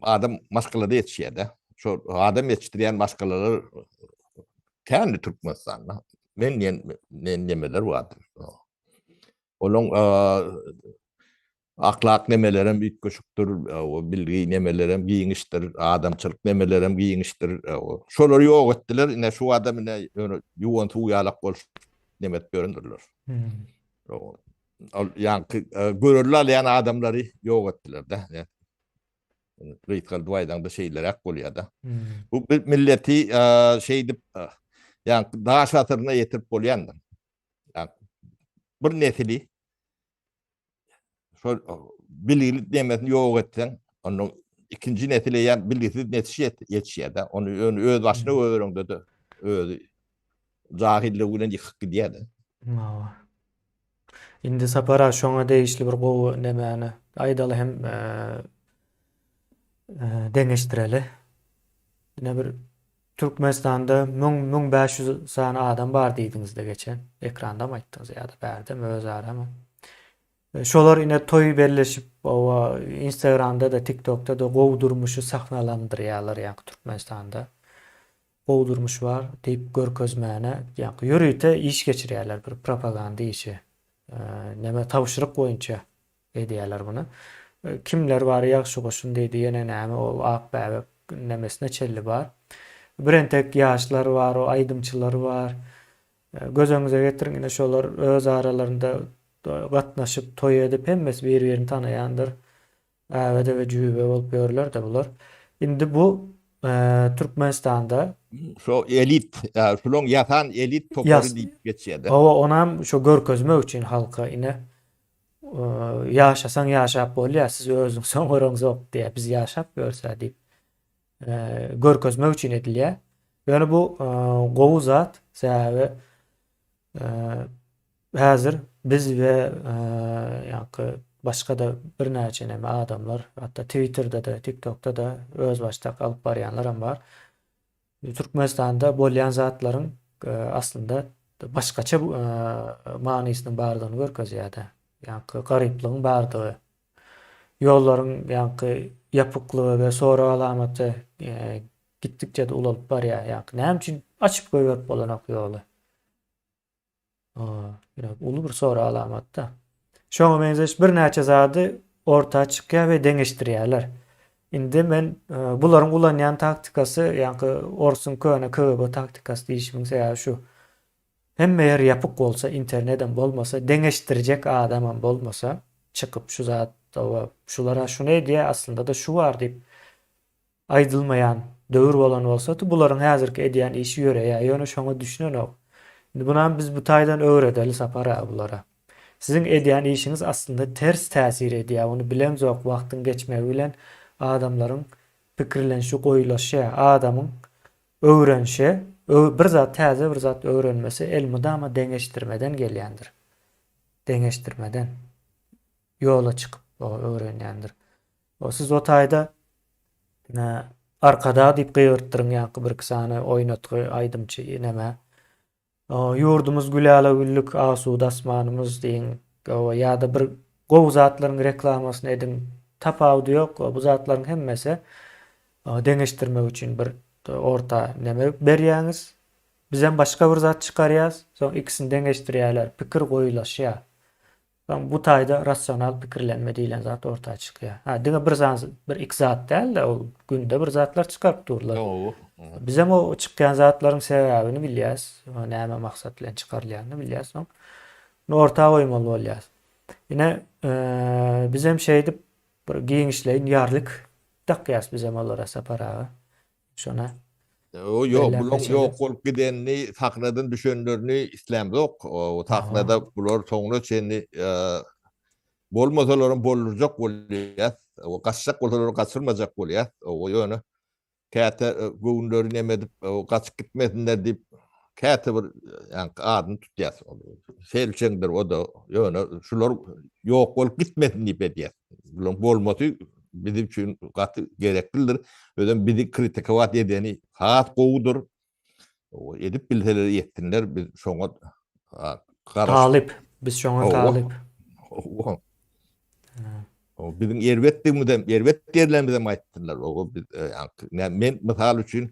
adam maskalada ýetişýär-de. Şol adam ýetişdirýän maskalalar kändi Türkmenistanda. Men diýen nemeler bardy. Olaryň Ahlak nemelerem üýtgeşikdir, bilgi nemelerem giňişdir, adamçylyk nemelerem giňişdir. Şolary ýok etdiler, ine şu adam ine ýöne ýuwan suw ýalak bolup neme edip ýörendirler. Ol ýaňky görelde alýan adamlary ýok etdiler-de. Gysgaldyp aýdaňda şeýleräk bolýar-da. Bu milleti şeýdip ýaňky daş asyryna ýetirip bolýandyr. Bir nesili şol bilgilik nemesini ýok etseň, onda ikinji nesile ýa bilgisiz netiş ýetişýär-de, ony öňi öz başyna göreňde-de özi jahillik bilen ýykyp gidýär-de. Hawa. Indi Sapar aga şoňa degişli bir gowy nemäni aýdaly hem deňeşdireli. Ine bir Türkmenistanda müň, müň bäş ýüz sany adam bar diýdiňizde geçen, ekrandam aýtdyňyz ýa-da bärdem özaramy. Şolar ine toý belleşip oba instagramda-da tiktokda-da gowy durmuşy sahnalandyrýalar ýaňky Türkmenistanda gowy durmuş bar diýip görkezmäne ýaňky ýörite iş geçirýäler bir propaganda işi neme tabşyryk boýunça Edýäler muny. Kimler bar ýagşy goşun diýdi ýene näme ol ak bäbek nemesine çelli bar. Bir entek ýaşlar bar o aýdymçylar bar. Göz öňüňize getiriň ine şolar öz aralarynda gatnaşyp toý edip hemmesi bir birini tanaýandyr. Äwede we jübe bolup ýörler-de bular. Indi bu Türkmenistanda. Şo elit şulaň ýasan elit topary diýip geçýädä. Hawa onam şo görkezmek üçin halka ine Ýaşasaň ýaşap bolýar, siz özüňiz soň göreňzok diýýär, biz ýaşap görse diýip görkezmek üçin edilýär. Ýöne bu gowy zat, sebäbi häzir biz we ýaňky başga-da birnäçe näme adamlar, hatda Twitterde-de, TikTokda-da özbaşdak alyp barýanlaram bar. Türkmenistanda bolýan zatlaryň aslynda başgaça manysynyň bardygyny görkezýär-de. Ýaňky garyplygyň bardygy, ýollaryň ýaňky ýapyklygy we sorag alamaty gitdikçe-de ulalyp barýar. Ýaňky näme üçin açyp goýberip bolanok ýoly? Biraz uly bir soru alamatda. Şoňa meňzeş birnäçe zady orta çykýar we deňeşdirýärler. Indi men e, bularyň ulanýan taktikasy, ýaňky orsuň köne KGB taktikasy diýişimiň sebäbi şu. Hemme ýer ýapyk bolsa, internetem bolmasa, deňeşdirjek adamam bolmasa, çykyp şu zat, şular şuny edýär, aslynda-da şu bar diýip, Aýdylmaýan döwür bolan bolsady, bularyň häzirki edýän işi ýöreýär, ýöne şoňa düşünenok. Indi bunam biz bu taýdan öwredeli Sapar aga bulara. Siziň edýän işiňiz aslynda ters täsir edýär, muny bilemzok, wagtyň geçmegi bilen adamlaryň pikirlenişi goýulaşýar. Adamyň öwrenişi, bir zat täze bir zat öwrenmesi elmydama deňeşdirmeden gelýändir. Deňeşdirmeden ýola çykyp öwrenýändir. O siz o taýda Arkadag diýip gygyrtdyryň ýaňky birki sany oýnatgy aýdymçy neme Ýurdumyz gül ala güllük asuda asmanymyz diýiň gowy ýa-da bir gowy zatlaryň reklamasyny ediň tapawudy ýok gowy bu zatlaryň hemmesi deňeşdirmek üçin bir orta neme berýäňiz bizem başga bir zat çykarýas soň ikisini deňeşdirýäler pikir goýulaşýa Soň bu taýda rasional pikirlenme diýlen zat orta çykýar. Hä, diňe bir zan, bir iki zat däl-de, ol günde bir zatlar çykaryp durlar. Bizem o çykýan zatlaryň sebäbini bilýäs, näme maksat bilen çykarylýanyny bilýäs, soň ony orta goýmaly bolýas. Ine, bizem şeýdip bir giňişleýin ýarlik dakýas bizem olara Sapar aga. Şona O ýok, bularyň ýok bolup gidenini, sahnadan düşenlerini islämzok. O sahnada bular soňuna çenli bolmasalaram boldurjak bolýas. O gaçjak bolsalar gaçyrmajak bolýas. O ýöne käte göwünleri neme edip, gaçyp gitmesinler diýip, Käte bir adyny tutýas. Selçeňdir o-da. Ýöne şular ýok bolup gitmesin diýip edýäs. Bularyň bolmasy biziň üçin gaty gereklidir. Özem bizi kritikowat edeni has gowudyr. Edip bilseler etsinler biz şoňa talyp. Biz şoňa talyp. Biziň erbetdigimizem, erbet ýerlerimizi aýtsynlar. Men mysal üçin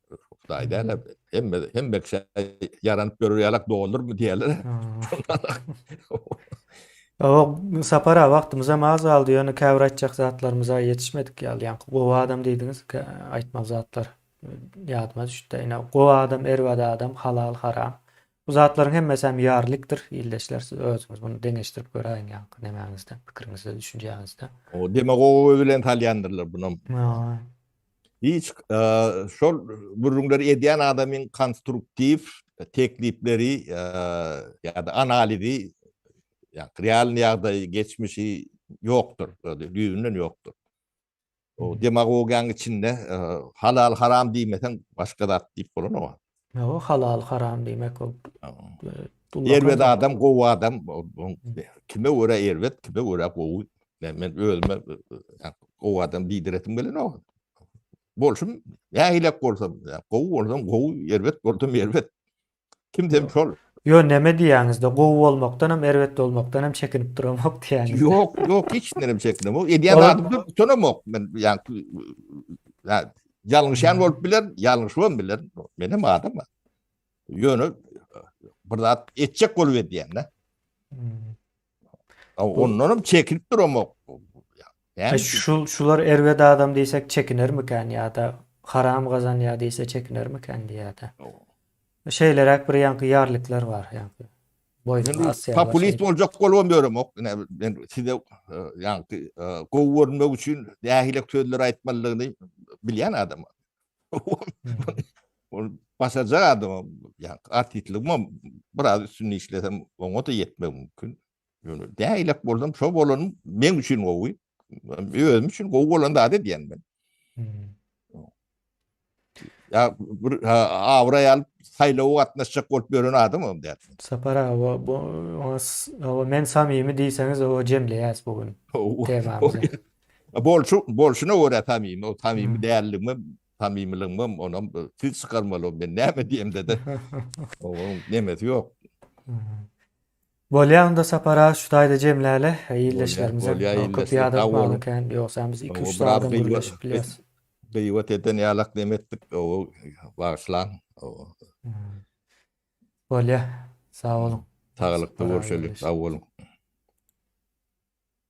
Hudaý däne, hemme, hemme kişi ýaranyp görür ýalak doldurmy diýerler. Ýok, sapara wagtymyz hem az galdy, ýöne käbir aýtjak zatlarymyza ýetişmedik ýaly. Ýa gowy adam diýdiňiz, aýtmaly zatlar ýadyma düşdi. Ine, gowy adam, erbet adam, halal, haram. Bu zatlaryň hemmesi hem ýarlikdir. Ildeşler, siz özüňiz muny deňeşdirip göräýiň ýaňky nämäňizde, pikiriňizde, düşünjäňizde. O demagog özi bilen salýandyrlar bunam. Hiç şol gürrüňleri edýän adamyň konstruktiw teklipleri ýa-da analizi ýa-da realny ýagdaýy, geçmişi ýokdur, düýbünden ýokdur. O demagogiýanyň içinde halal-haram diýmeseň başga zat diýip bolanok. Ýa-o halal haram diýmek ol. Erbet adam gowy adam kime görä erbet kime görä gowy. Men özüme gowy adam diýdiresim gelenok. Bolşum nähilek bolsam gowy bolsam gowy erbet bolsam erbet. Kimden şol. Ýo näme diýýäňizde gowy bolmakdan hem erbet bolmakdan hem çekinip duramok diýýäňiz. Ýok ýok hiç nerem çekinemok. Edýän adamdan utanamok men ýa Ýalňyşan bolup biler, ýalňyşman biler. Men hem adam. Ýöne bir zat etjek bolup edýän-de. Hmm. Ondan hem çekinip duramok. Yani, şu, şular erbet adam diýsek çekiner mikan ýa-da haram gazanýar diýse çekiner mikan diýýär-de. Şeýleräk bir ýaňky ýarlyklar bar ýaňky. Populist boljak bolubam ýöremok. Ine men size ýaňky gowy görünmek üçin nähili sözler aýtmalydygyny bilýän adam. Ol başarjak adam. Ýa artistligim biraz üstünde işlesem oňa-da ýetmek mümkin. Ýöne nähili bolsam şo bolan men üçin gowy. özüm üçin gowy bolan zat edýän men. Hmm. Ya bir awray alyp saýlawa gatnaşjak bolup ýören adam hem däl. Sapar awa bu awa men samimi diýseňiz o jemleýäs bu gün. Temamyzy. Bolşu bolşuna görä samimi, o samimi hmm. däldigimi, samimiligimi onam siz çykarmaly men näme diýemde-de. Oň nemesi ýok. Hmm. Bolýa onda Sapara şu taýda jemläle ildeşlerimize köp ýad atmaly kän ýogsam biz iki üç zada gürleşip bilýäs. Gyýbat eden ýalak neme etdik owo bagyşlaň owo. Bolýa sag boluň. Saglykda boluň şeýle sag boluň.